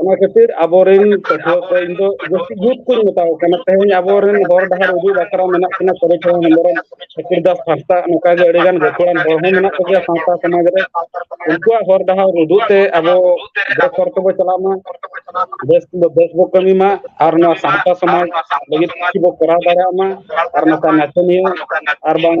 ᱚᱱᱟ ᱠᱷᱟᱹᱛᱤᱨ ᱟᱵᱚᱨᱮᱱ ᱯᱟᱹᱴᱷᱩᱣᱟᱹ ᱠᱚ ᱤᱧ ᱫᱚ ᱡᱟᱹᱥᱛᱤ ᱡᱩᱛ ᱠᱚᱧ ᱢᱮᱛᱟ ᱠᱚ ᱠᱟᱱᱟ ᱛᱮᱦᱮᱧ ᱟᱵᱚᱨᱮᱱ ᱦᱚᱨ ᱰᱟᱦᱟᱨ ᱩᱫᱩᱜ ᱵᱟᱠᱷᱨᱟ ᱢᱮᱱᱟᱜ ᱠᱤᱱᱟ ᱥᱚᱨᱚᱡᱽ ᱦᱚᱸ ᱦᱮᱢᱵᱨᱚᱢ ᱥᱩᱠᱩᱨ ᱫᱟᱥ ᱦᱟᱸᱥᱫᱟ ᱱᱚᱝᱠᱟ ᱜᱮ ᱟᱹᱰᱤ ᱜᱟᱱ ᱜᱟᱹᱠᱷᱩᱲᱟᱱ ᱦᱚᱲ ᱦᱚᱸ ᱢᱮᱱᱟᱜ ᱠᱚᱜᱮᱭᱟ ᱥᱟᱶᱛᱟ ᱥᱚᱢᱟᱡᱽ ᱨᱮ ᱩᱱᱠᱩᱣᱟᱜ ᱦᱚᱨ ᱰᱟᱦᱟᱨ ᱩᱫᱩᱜ ᱛᱮ ᱟᱵᱚ ᱵᱮᱥ ᱦᱚᱨ ᱛᱮᱵᱚ ᱪᱟᱞᱟᱜ ᱢᱟ ᱵᱮᱥ ᱫᱚ ᱵᱮᱥ ᱵᱚ ᱠᱟᱹᱢᱤ ᱢᱟ ᱟᱨ ᱱᱚᱣᱟ ᱥᱟᱶᱛᱟ ᱥᱚᱢᱟᱡᱽ ᱞᱟᱹᱜᱤᱫ ᱠᱤᱪᱷᱩ ᱵᱚ ᱠᱚᱨᱟᱣ ᱫᱟᱲᱮᱭᱟᱜ ᱢᱟ ᱟᱨ ᱱᱚᱝᱠᱟ ᱱᱟᱪᱚᱱᱤᱭᱟᱹ ᱟᱨ ᱵᱟᱝ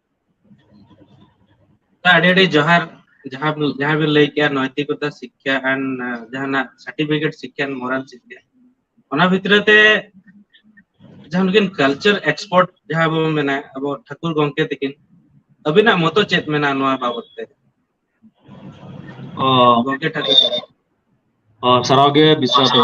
ᱟᱹᱰᱤ ᱟᱹᱰᱤ ᱡᱚᱦᱟᱨ ᱡᱟᱦᱟᱸ ᱡᱟᱦᱟᱸ ᱵᱤᱱ ᱞᱟᱹᱭ ᱠᱮᱜᱼᱟ ᱱᱳᱭᱛᱤᱠᱚᱛᱟ ᱥᱤᱠᱠᱷᱟ ᱟᱱ ᱡᱟᱦᱟᱱᱟᱜ ᱥᱟᱨᱴᱤᱯᱷᱤᱠᱮᱴ ᱥᱤᱠᱠᱷᱟ ᱢᱚᱨᱟᱞ ᱥᱤᱠᱠᱷᱟ ᱚᱱᱟ ᱵᱷᱤᱛᱨᱤ ᱛᱮ ᱡᱟᱦᱟᱸ ᱱᱩᱠᱤᱱ ᱠᱟᱞᱪᱟᱨ ᱮᱠᱥᱯᱳᱨᱴ ᱡᱟᱦᱟᱸ ᱵᱚᱱ ᱢᱮᱱᱟ ᱟᱵᱚ ᱴᱷᱟᱹᱠᱩᱨ ᱜᱚᱢᱠᱮ ᱛᱤᱠᱤᱱ ᱟᱵᱤᱱᱟᱜ ᱢᱚᱛᱚ ᱪᱮᱫ ᱢᱮᱱᱟᱜᱼᱟ ᱱᱚᱣᱟ ᱵᱟᱵᱚᱛ ᱛᱮ ᱚ ᱜᱚᱝᱠᱮ ᱴᱟᱠᱩ ᱚ ᱥᱟᱨᱦᱟᱣ ᱜᱮ ᱵᱤᱥᱥᱚ ᱫᱚ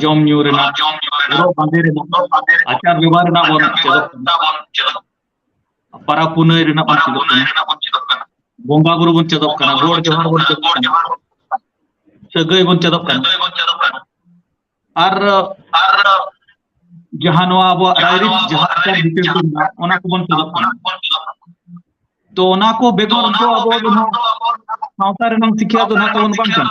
ᱡᱚᱢ ᱧᱩ ᱨᱮᱱᱟᱜ ᱦᱚᱨᱚᱜ ᱵᱟᱸᱫᱮ ᱨᱮᱱᱟᱜ ᱟᱪᱟᱨ ᱵᱮᱵᱚᱦᱟᱨ ᱨᱮᱱᱟᱜ ᱵᱚᱱ ᱪᱮᱫᱚᱜ ᱠᱟᱱᱟ ᱯᱟᱨᱟᱵᱽ ᱯᱩᱱᱟᱹᱭ ᱨᱮᱱᱟᱜ ᱵᱚᱱ ᱪᱮᱫᱚᱜ ᱠᱟᱱᱟ ᱵᱚᱸᱜᱟ ᱵᱩᱨᱩ ᱵᱚᱱ ᱪᱮᱫᱚᱜ ᱠᱟᱱᱟ ᱜᱚᱰ ᱡᱚᱦᱟᱨ ᱵᱚᱱ ᱪᱮᱫᱚᱜ ᱠᱟᱱᱟ ᱥᱟᱹᱜᱟᱹᱭ ᱵᱚᱱ ᱪᱮᱫᱚᱜ ᱠᱟᱱᱟ ᱟᱨ ᱡᱟᱦᱟᱸ ᱱᱚᱣᱟ ᱟᱵᱚᱣᱟᱜ ᱨᱟᱭᱨᱤᱛ ᱡᱟᱦᱟᱸ ᱟᱪᱟᱨ ᱵᱤᱪᱟᱹᱨ ᱠᱚ ᱢᱮᱱᱟᱜᱼᱟ ᱚᱱᱟ ᱠᱚᱵᱚᱱ ᱪᱮᱫᱚᱜ ᱠᱟᱱᱟ ᱛᱚ ᱚᱱᱟ ᱠᱚ ᱵᱮᱜᱚᱨ ᱫᱚ ᱟᱵᱚ ᱫᱚ ᱱᱟᱦᱟᱜ ᱥᱟᱶᱛᱟ ᱨᱮᱱᱟᱝ ᱥᱤᱠᱷᱭᱟ ᱫᱚ ᱱᱟᱦᱟᱜ ᱛᱟᱵᱚᱱ ᱵᱟᱝ ᱠᱟᱱᱟ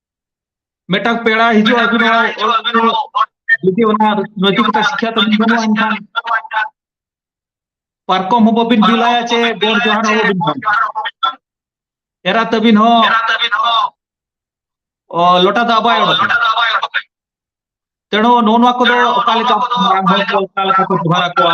ᱢᱤᱫᱴᱟᱝ ᱯᱮᱲᱟ ᱦᱤᱡᱩᱜ ᱟᱹᱵᱤᱱ ᱡᱩᱫᱤ ᱚᱱᱟ ᱱᱚᱡᱩ ᱠᱟᱛᱮ ᱥᱤᱠᱷᱟ ᱛᱟᱵᱤᱱ ᱵᱟᱹᱱᱩᱜᱼᱟ ᱮᱱᱠᱷᱟᱱ ᱯᱟᱨᱠᱚᱢ ᱦᱚᱸ ᱵᱟᱹᱵᱤᱱ ᱵᱤᱞᱟᱭᱟ ᱪᱮ ᱜᱚᱲ ᱡᱚᱦᱟᱨ ᱦᱚᱸ ᱵᱟᱹᱵᱤᱱ ᱵᱟᱝ ᱮᱨᱟ ᱛᱟᱹᱵᱤᱱ ᱦᱚᱸ ᱞᱚᱴᱟ ᱫᱟᱜ ᱵᱟᱭ ᱚᱰᱚᱠᱟ ᱛᱮᱬᱚ ᱱᱚᱣᱟ ᱠᱚᱫᱚ ᱚᱠᱟ ᱞᱮᱠᱟ ᱢᱟᱨᱟᱝ ᱦᱚᱲ ᱠᱚ ᱚᱠᱟ ᱞᱮᱠᱟ ᱠᱚ ᱡᱚᱦᱟᱨ ᱟᱠᱚᱣᱟ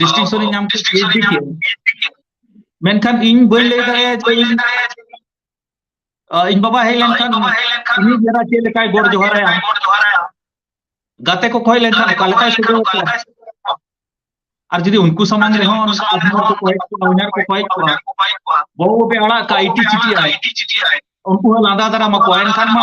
ᱰᱤᱥᱴᱤᱝᱥᱚᱱ ᱤᱧ ᱧᱟᱢ ᱠᱮᱫᱟ ᱢᱮᱱᱠᱷᱟᱱ ᱤᱧ ᱵᱟᱹᱧ ᱞᱟᱹᱭ ᱫᱟᱲᱮᱭᱟᱜᱼᱟ ᱡᱮ ᱤᱧ ᱵᱟᱵᱟ ᱦᱮᱡ ᱞᱮᱱᱠᱷᱟᱱ ᱩᱱᱤ ᱡᱟᱨᱟ ᱪᱮᱫ ᱞᱮᱠᱟᱭ ᱜᱚᱰ ᱡᱚᱦᱟᱨᱟᱭᱟ ᱜᱟᱛᱮ ᱠᱚ ᱠᱷᱚᱭ ᱞᱮᱱᱠᱷᱟᱱ ᱚᱠᱟ ᱞᱮᱠᱟᱭ ᱥᱚᱫᱚᱨ ᱟᱠᱚᱣᱟ ᱟᱨ ᱡᱩᱫᱤ ᱩᱱᱠᱩ ᱥᱟᱢᱟᱝ ᱨᱮᱦᱚᱸ ᱟᱡᱷᱱᱟᱨ ᱠᱚ ᱠᱚᱭᱮᱠ ᱠᱚᱣᱟ ᱩᱭᱱᱟᱨ ᱠᱚ ᱠᱚᱭᱮᱠ ᱠᱚᱣᱟ ᱵᱟᱹᱵᱩ ᱵᱟᱯᱮ ᱟᱲᱟᱜ ᱠᱟᱜᱼᱟ ᱤᱴᱤ ᱪᱤᱴᱤ ᱟᱭ ᱩᱱᱠᱩ ᱦᱚᱸ ᱞᱟᱸᱫᱟ ᱫᱟᱨᱟᱢ ᱟᱠᱚᱣᱟ ᱮᱱᱠᱷᱟᱱ ᱢᱟ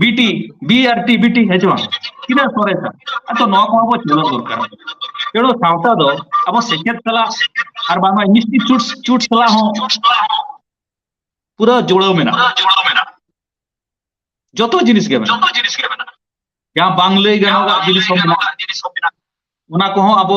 ᱵᱤᱴᱤ ᱵᱤ ᱟᱨ ᱴᱤ ᱵᱤᱴᱤ ᱦᱮᱸ ᱪᱮ ᱵᱟᱝ ᱛᱤᱱᱟᱹᱜ ᱥᱚᱨᱮᱥᱟ ᱟᱫᱚ ᱱᱚᱣᱟ ᱠᱚᱦᱚᱸ ᱵᱚ ᱪᱮᱫᱚᱜ ᱫᱚᱨᱠᱟᱨ ᱛᱮᱬᱳ ᱥᱟᱶᱛᱟ ᱫᱚ ᱟᱵᱚ ᱥᱮᱪᱮᱫ ᱥᱟᱞᱟᱜ ᱟᱨ ᱵᱟᱝᱢᱟ ᱢᱤᱥᱴᱤ ᱪᱩᱴ ᱪᱩᱴ ᱥᱟᱞᱟᱜ ᱦᱚᱸ ᱯᱩᱨᱟᱹ ᱡᱩᱲᱟᱹᱣ ᱢᱮᱱᱟᱜᱼᱟ ᱡᱚᱛᱚ ᱡᱤᱱᱤᱥ ᱜᱮ ᱢᱮᱱᱟᱜᱼᱟ ᱡᱟᱦᱟᱸ ᱵᱟᱝ ᱞᱟᱹᱭ ᱜᱟᱱᱚᱜᱼᱟ ᱡᱤᱱᱤᱥ ᱦᱚᱸ ᱢᱮᱱᱟᱜᱼᱟ ᱚᱱᱟ ᱠᱚᱦᱚᱸ ᱟᱵᱚ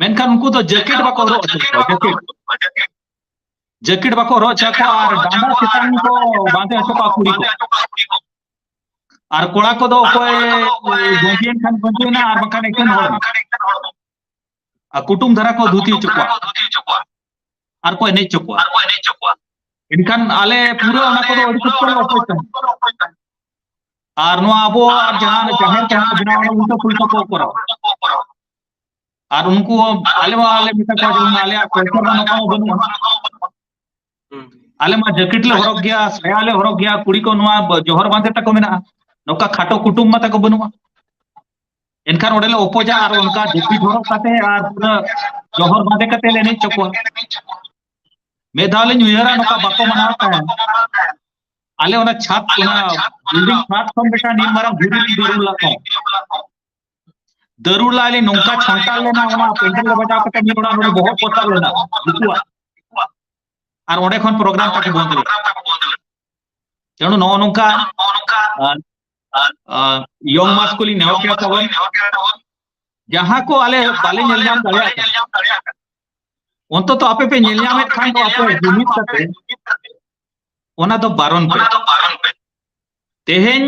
ᱢᱮᱱᱠᱷᱟᱱ ᱩᱱᱠᱩ ᱫᱚ ᱡᱮᱠᱮᱴ ᱵᱟᱠᱚ ᱦᱚᱨᱚᱜ ᱦᱚᱪᱚ ᱠᱚᱣᱟ ᱡᱮᱠᱮᱴ ᱡᱮᱠᱮᱴ ᱵᱟᱠᱚ ᱦᱚᱨᱚᱜ ᱦᱚᱪᱚ ᱠᱚᱣᱟ ᱟᱨ ᱰᱟᱸᱰᱟ ᱪᱮᱛᱟᱱ ᱠᱚ ᱵᱟᱸᱫᱮ ᱦᱚᱪᱚ ᱠᱚᱣᱟ ᱠᱩᱲᱤ ᱠᱚ ᱟᱨ ᱠᱚᱲᱟ ᱠᱚᱫᱚ ᱚᱠᱚᱭ ᱜᱚᱸᱡᱮᱱ ᱠᱷᱟᱱ ᱜᱚᱸᱡᱮᱱᱟ ᱟᱨ ᱵᱟᱝᱠᱷᱟᱱ ᱮᱠᱮᱱ ᱦᱚᱲ ᱟᱨ ᱠᱩᱴᱩᱢ ᱫᱷᱟᱨᱟ ᱠᱚ ᱫᱷᱩᱛᱤ ᱦᱚᱪᱚ ᱠᱚᱣᱟ ᱟᱨ ᱠᱚ ᱮᱱᱮᱡ ᱦᱚᱪᱚ ᱠᱚᱣᱟ ᱮᱱᱠᱷᱟᱱ ᱟᱞᱮ ᱯᱩᱨᱟᱹ ᱚᱱᱟ ᱠᱚᱫᱚ ᱟᱹᱰᱤ ᱥᱚᱠᱛᱚ ᱞᱮ ᱚᱯᱚᱡᱽ ᱛᱟᱦᱮᱸᱫ ᱟᱨ ᱱᱚᱣᱟ ᱟᱵᱚᱣᱟᱜ ᱡᱟᱦᱟᱸ ᱡᱟᱦᱮᱨ ᱡᱟᱦᱟᱸ ᱵᱮᱱᱟᱣ ᱩᱞᱴᱟᱹ ᱯᱩᱞᱴᱟᱹ ᱠᱚ ᱠᱚᱨᱟᱣᱟ ᱟᱨ ᱩᱱᱠᱩ ᱦᱚᱸ ᱟᱞᱮ ᱢᱟ ᱟᱞᱮ ᱢᱮᱛᱟ ᱠᱚᱣᱟ ᱡᱮᱢᱚᱱ ᱟᱞᱮᱭᱟᱜ ᱠᱚᱞᱪᱟᱨ ᱢᱟ ᱱᱚᱝᱠᱟ ᱢᱟ ᱵᱟᱹᱱᱩᱜᱼᱟ ᱟᱞᱮ ᱢᱟ ᱡᱮᱠᱮᱴ ᱞᱮ ᱦᱚᱨᱚᱜᱽ ᱜᱮᱭᱟ ᱥᱟᱭᱟ ᱞᱮ ᱦᱚᱨᱚᱜᱽ ᱜᱮᱭᱟ ᱠᱩᱲᱤ ᱠᱚ ᱱᱚᱣᱟ ᱵ- ᱡᱚᱦᱚᱨ ᱵᱟᱸᱫᱮ ᱛᱟᱠᱚ ᱢᱮᱱᱟᱜᱼᱟ ᱱᱚᱝᱠᱟ ᱠᱷᱟᱴᱚ ᱠᱩᱴᱩᱢ ᱢᱟ ᱛᱟᱠᱚ ᱵᱟᱹᱱᱩᱜᱼᱟ ᱮᱱᱠᱷᱟᱱ ᱚᱸᱰᱮ ᱞᱮ ᱚᱯᱚᱡᱟ ᱟᱨ ᱚᱱᱠᱟ ᱡᱟᱹᱯᱤᱫ ᱦᱚᱨᱚᱜ ᱠᱟᱛᱮ ᱟᱨ ᱯᱩᱨᱟᱹ ᱡᱚᱦᱚᱨ ᱵᱟᱸᱫᱮ ᱠᱟᱛᱮ ᱞᱮ ᱮᱱᱮᱡ ᱦᱚᱪᱚ ᱠᱚᱣᱟ ᱢᱤᱫ ᱫᱷᱟᱣ ᱞᱤᱧ ᱩᱭᱦᱟᱹᱨᱟ ᱱᱚᱝᱠᱟ ᱵᱟᱠᱚ ᱢᱟᱱᱟᱣ ᱛᱟᱦᱮᱸᱫ ᱟᱞᱮ ᱚᱱᱟ ᱪᱷᱟᱫᱽ ᱚᱱᱟ ᱵᱤᱞᱰᱤᱝ ᱪᱷᱟᱫᱽ ᱠᱷᱚᱱ ᱢᱤᱫᱴᱟᱝ ᱱᱤᱱ ᱢᱟᱨᱟᱝ ᱫᱷᱤᱨᱤ ᱞᱤᱧ ᱫᱩᱲᱩᱵ ᱞᱟᱜ ᱛᱟᱦᱮᱸᱫ ᱫᱟᱹᱨᱩᱲ ᱞᱟᱭ ᱞᱤᱧ ᱱᱚᱝᱠᱟ ᱪᱷᱚᱱᱴᱟᱨ ᱞᱮᱱᱟ ᱚᱱᱟ ᱯᱮᱱᱰᱮᱞ ᱨᱮ ᱵᱟᱡᱟᱣ ᱠᱟᱛᱮ ᱢᱤᱫ ᱚᱲᱟᱜ ᱱᱚᱰᱮ ᱵᱚᱦᱚᱜ ᱯᱚᱛᱟᱨ ᱞᱮᱱᱟ ᱩᱱᱠᱩᱣᱟᱜ ᱟᱨ ᱚᱸᱰᱮ ᱠᱷᱚᱱ ᱯᱨᱳᱜᱨᱟᱢ ᱛᱟᱠᱚ ᱵᱚᱱᱫ ᱞᱮᱱᱟ ᱛᱮᱱᱩ ᱱᱚᱜᱼᱚ ᱱᱚᱝᱠᱟ ᱭᱚᱝ ᱢᱟᱥ ᱠᱚ ᱞᱤᱧ ᱱᱮᱦᱚᱨ ᱠᱮᱫᱟ ᱛᱟᱵᱚᱱ ᱡᱟᱦᱟᱸ ᱠᱚ ᱟᱞᱮ ᱵᱟᱞᱮ ᱧᱮᱞ ᱧᱟᱢ ᱫᱟᱲᱮᱭᱟᱜ ᱠᱟᱱᱟ ᱚᱱᱛᱚᱛᱚ ᱟᱯᱮ ᱯᱮ ᱧᱮᱞ ᱧᱟᱢᱮᱫ ᱠᱷᱟᱱ ᱫᱚ ᱟᱯᱮ ᱡᱩᱢᱤᱫ ᱠᱟᱛᱮ ᱚᱱᱟ ᱫᱚ ᱵᱟᱨᱚᱱ ᱯᱮ ᱛᱮᱦᱮᱧ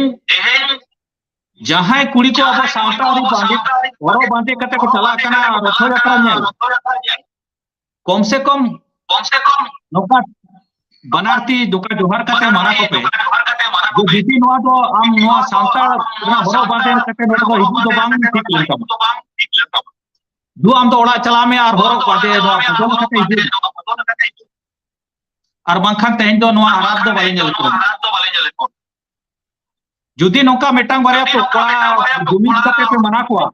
ᱡᱟᱦᱟᱸᱭ ᱠᱩᱲᱤ ᱠᱚ ᱟᱵᱚ ᱥᱟᱶᱛᱟ ᱟᱹᱨᱤ ᱵᱟᱸᱫᱮ ᱦᱚᱨᱚᱜ ᱵᱟᱸᱫᱮ ᱠᱟᱛᱮ ᱠᱚ ᱪᱟᱞᱟᱜ ᱠᱟᱱᱟ ᱨᱚᱛᱷᱚ ᱡᱟᱛᱨᱟ ᱧᱮᱞ ᱠᱚᱢ ᱥᱮ ᱠᱚᱢ ᱠᱚᱢ ᱥᱮ ᱠᱚᱢ ᱱᱚᱝᱠᱟ ᱵᱟᱱᱟᱨ ᱛᱤ ᱫᱚᱠᱟ ᱡᱚᱦᱟᱨ ᱠᱟᱛᱮ ᱢᱟᱱᱟ ᱠᱚᱯᱮ ᱡᱮ ᱡᱩᱫᱤ ᱱᱚᱣᱟ ᱫᱚ ᱟᱢ ᱱᱚᱣᱟ ᱥᱟᱶᱛᱟ ᱨᱮᱱᱟᱜ ᱦᱚᱨᱚᱜ ᱵᱟᱸᱫᱮ ᱠᱟᱛᱮ ᱱᱚᱰᱮ ᱫᱚ ᱦᱤᱡᱩᱜ ᱫᱚ ᱵᱟᱝ ᱴᱷᱤᱠ ᱞᱮᱱ ᱛᱟᱢᱟ ᱫᱩ ᱟᱢ ᱫᱚ ᱚᱲᱟᱜ ᱪᱟᱞᱟᱜ ᱢᱮ ᱟᱨ ᱦᱚᱨᱚᱜ ᱵᱟᱸᱫᱮ ᱱᱚᱣᱟ ᱵᱚᱫᱚᱞ ᱠᱟᱛᱮ ᱦᱤᱡᱩᱜ ᱟᱨ ᱵᱟᱝᱠᱷᱟᱱ ᱛᱮᱦᱮᱧ ᱫᱚ ᱱᱚᱣᱟ ᱟᱨᱟᱫ ᱫᱚ ᱵᱟᱞᱮ ᱧᱮᱞ ᱠᱚᱣᱟ ᱡᱩᱫᱤ ᱱᱚᱝᱠᱟ ᱢᱤᱫᱴᱟᱝ ᱵᱟᱨᱭᱟ ᱯᱚᱠᱟ ᱡᱩᱢᱤᱫ ᱠᱟᱛᱮ ᱯᱮ ᱢᱟᱱᱟ ᱠᱚᱣᱟ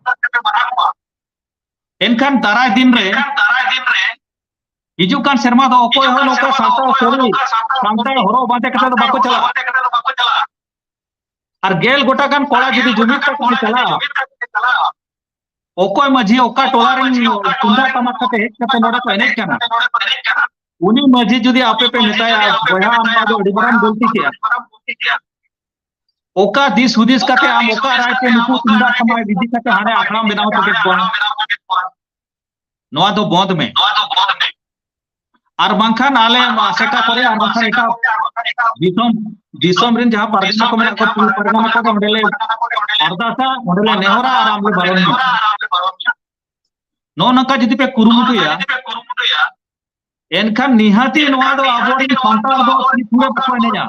ᱮᱱᱠᱷᱟᱱ ᱫᱟᱨᱟᱭ ᱫᱤᱱ ᱨᱮ ᱦᱤᱡᱩᱜ ᱠᱟᱱ ᱥᱮᱨᱢᱟ ᱫᱚ ᱚᱠᱚᱭ ᱦᱚᱸ ᱱᱚᱝᱠᱟ ᱥᱟᱱᱛᱟᱲ ᱥᱟᱹᱨᱤ ᱥᱟᱱᱛᱟᱲ ᱦᱚᱨᱚᱜ ᱵᱟᱸᱫᱮ ᱠᱟᱛᱮ ᱫᱚ ᱵᱟᱠᱚ ᱪᱟᱞᱟᱜᱼᱟ ᱟᱨ ᱜᱮᱞ ᱜᱚᱴᱟ ᱜᱟᱱ ᱠᱚᱲᱟ ᱡᱩᱫᱤ ᱡᱩᱢᱤᱫ ᱠᱟᱛᱮ ᱠᱚ ᱪᱟᱞᱟᱜᱼᱟ ᱚᱠᱚᱭ ᱢᱟᱹᱡᱷᱤ ᱚᱠᱟ ᱴᱚᱞᱟ ᱨᱮᱱ ᱛᱩᱢᱫᱟᱜ ᱴᱟᱢᱟᱠ ᱠᱟᱛᱮ ᱦᱮᱡ ᱠᱟᱛᱮ ᱱᱚᱰᱮ ᱠᱚ ᱮᱱᱮᱡ ᱠᱟᱱᱟ ᱩᱱᱤ ᱢᱟᱹᱡᱷᱤ ᱡᱩᱫᱤ ᱟᱯᱮ ᱯᱮ ᱢᱮᱛᱟᱭᱟ ᱵᱚᱭᱦᱟ ᱟᱢ ᱫᱚ ᱟᱹᱰᱤ ᱢᱟᱨᱟᱝ ᱜᱚᱞᱛᱤ ᱠᱮᱜᱼᱟ ᱚᱠᱟ ᱫᱤᱥ ᱦᱩᱫᱤᱥ ᱠᱟᱛᱮ ᱟᱢ ᱚᱠᱟ ᱨᱟᱭ ᱛᱮ ᱱᱩᱠᱩ ᱛᱩᱢᱫᱟᱜ ᱴᱟᱢᱟᱠ ᱤᱫᱤ ᱠᱟᱛᱮ ᱦᱟᱸᱰᱮ ᱟᱠᱷᱲᱟᱢ ᱵᱮᱱᱟᱣ ᱦᱚᱴᱚ ᱠᱮᱫ ᱠᱚᱣᱟ ᱱᱚᱣᱟ ᱫᱚ ᱵᱚᱸᱫ ᱢᱮ ᱱᱚᱣᱟ ᱫᱚ ᱵᱚᱸᱫ ᱢᱮ ᱟᱨ ᱵᱟᱝᱠᱷᱟᱱ ᱟᱞᱮ ᱟᱥᱮᱠᱟ ᱠᱚᱨᱮ ᱟᱨ ᱵᱟᱝᱠᱷᱟᱱ ᱮᱴᱟᱜ ᱫᱤᱥᱚᱢ ᱫᱤᱥᱚᱢ ᱨᱮᱱ ᱡᱟᱦᱟᱸ ᱯᱟᱨᱜᱟᱱᱟ ᱠᱚ ᱢᱮᱱᱟᱜ ᱠᱚᱣᱟ ᱯᱩᱞ ᱯᱟᱨᱜᱟᱱᱟ ᱠᱚ ᱚᱸᱰᱮ ᱞᱮ ᱟᱨᱫᱟᱥᱟ ᱚᱸᱰᱮ ᱞᱮ ᱱᱮᱦᱚᱨᱟ ᱟᱨ ᱟᱢ ᱞᱮ ᱵᱟᱨᱚᱱ ᱢᱮᱭᱟ ᱱᱚᱜᱼᱚ ᱱᱚᱝᱠᱟ ᱡᱩᱫᱤ ᱯᱮ ᱠᱩᱨᱩᱢᱩᱴᱩᱭᱟ ᱮᱱᱠᱷᱟᱱ ᱱᱤᱦᱟᱹᱛᱤ ᱱᱚᱣᱟ ᱫᱚ ᱟᱵᱚᱨᱮᱱ ᱥᱟᱱᱛᱟᱲ ᱫᱚ ᱛᱤᱥ ᱦᱚᱸ ᱵᱟᱠᱚ ᱮᱱᱮᱡᱟ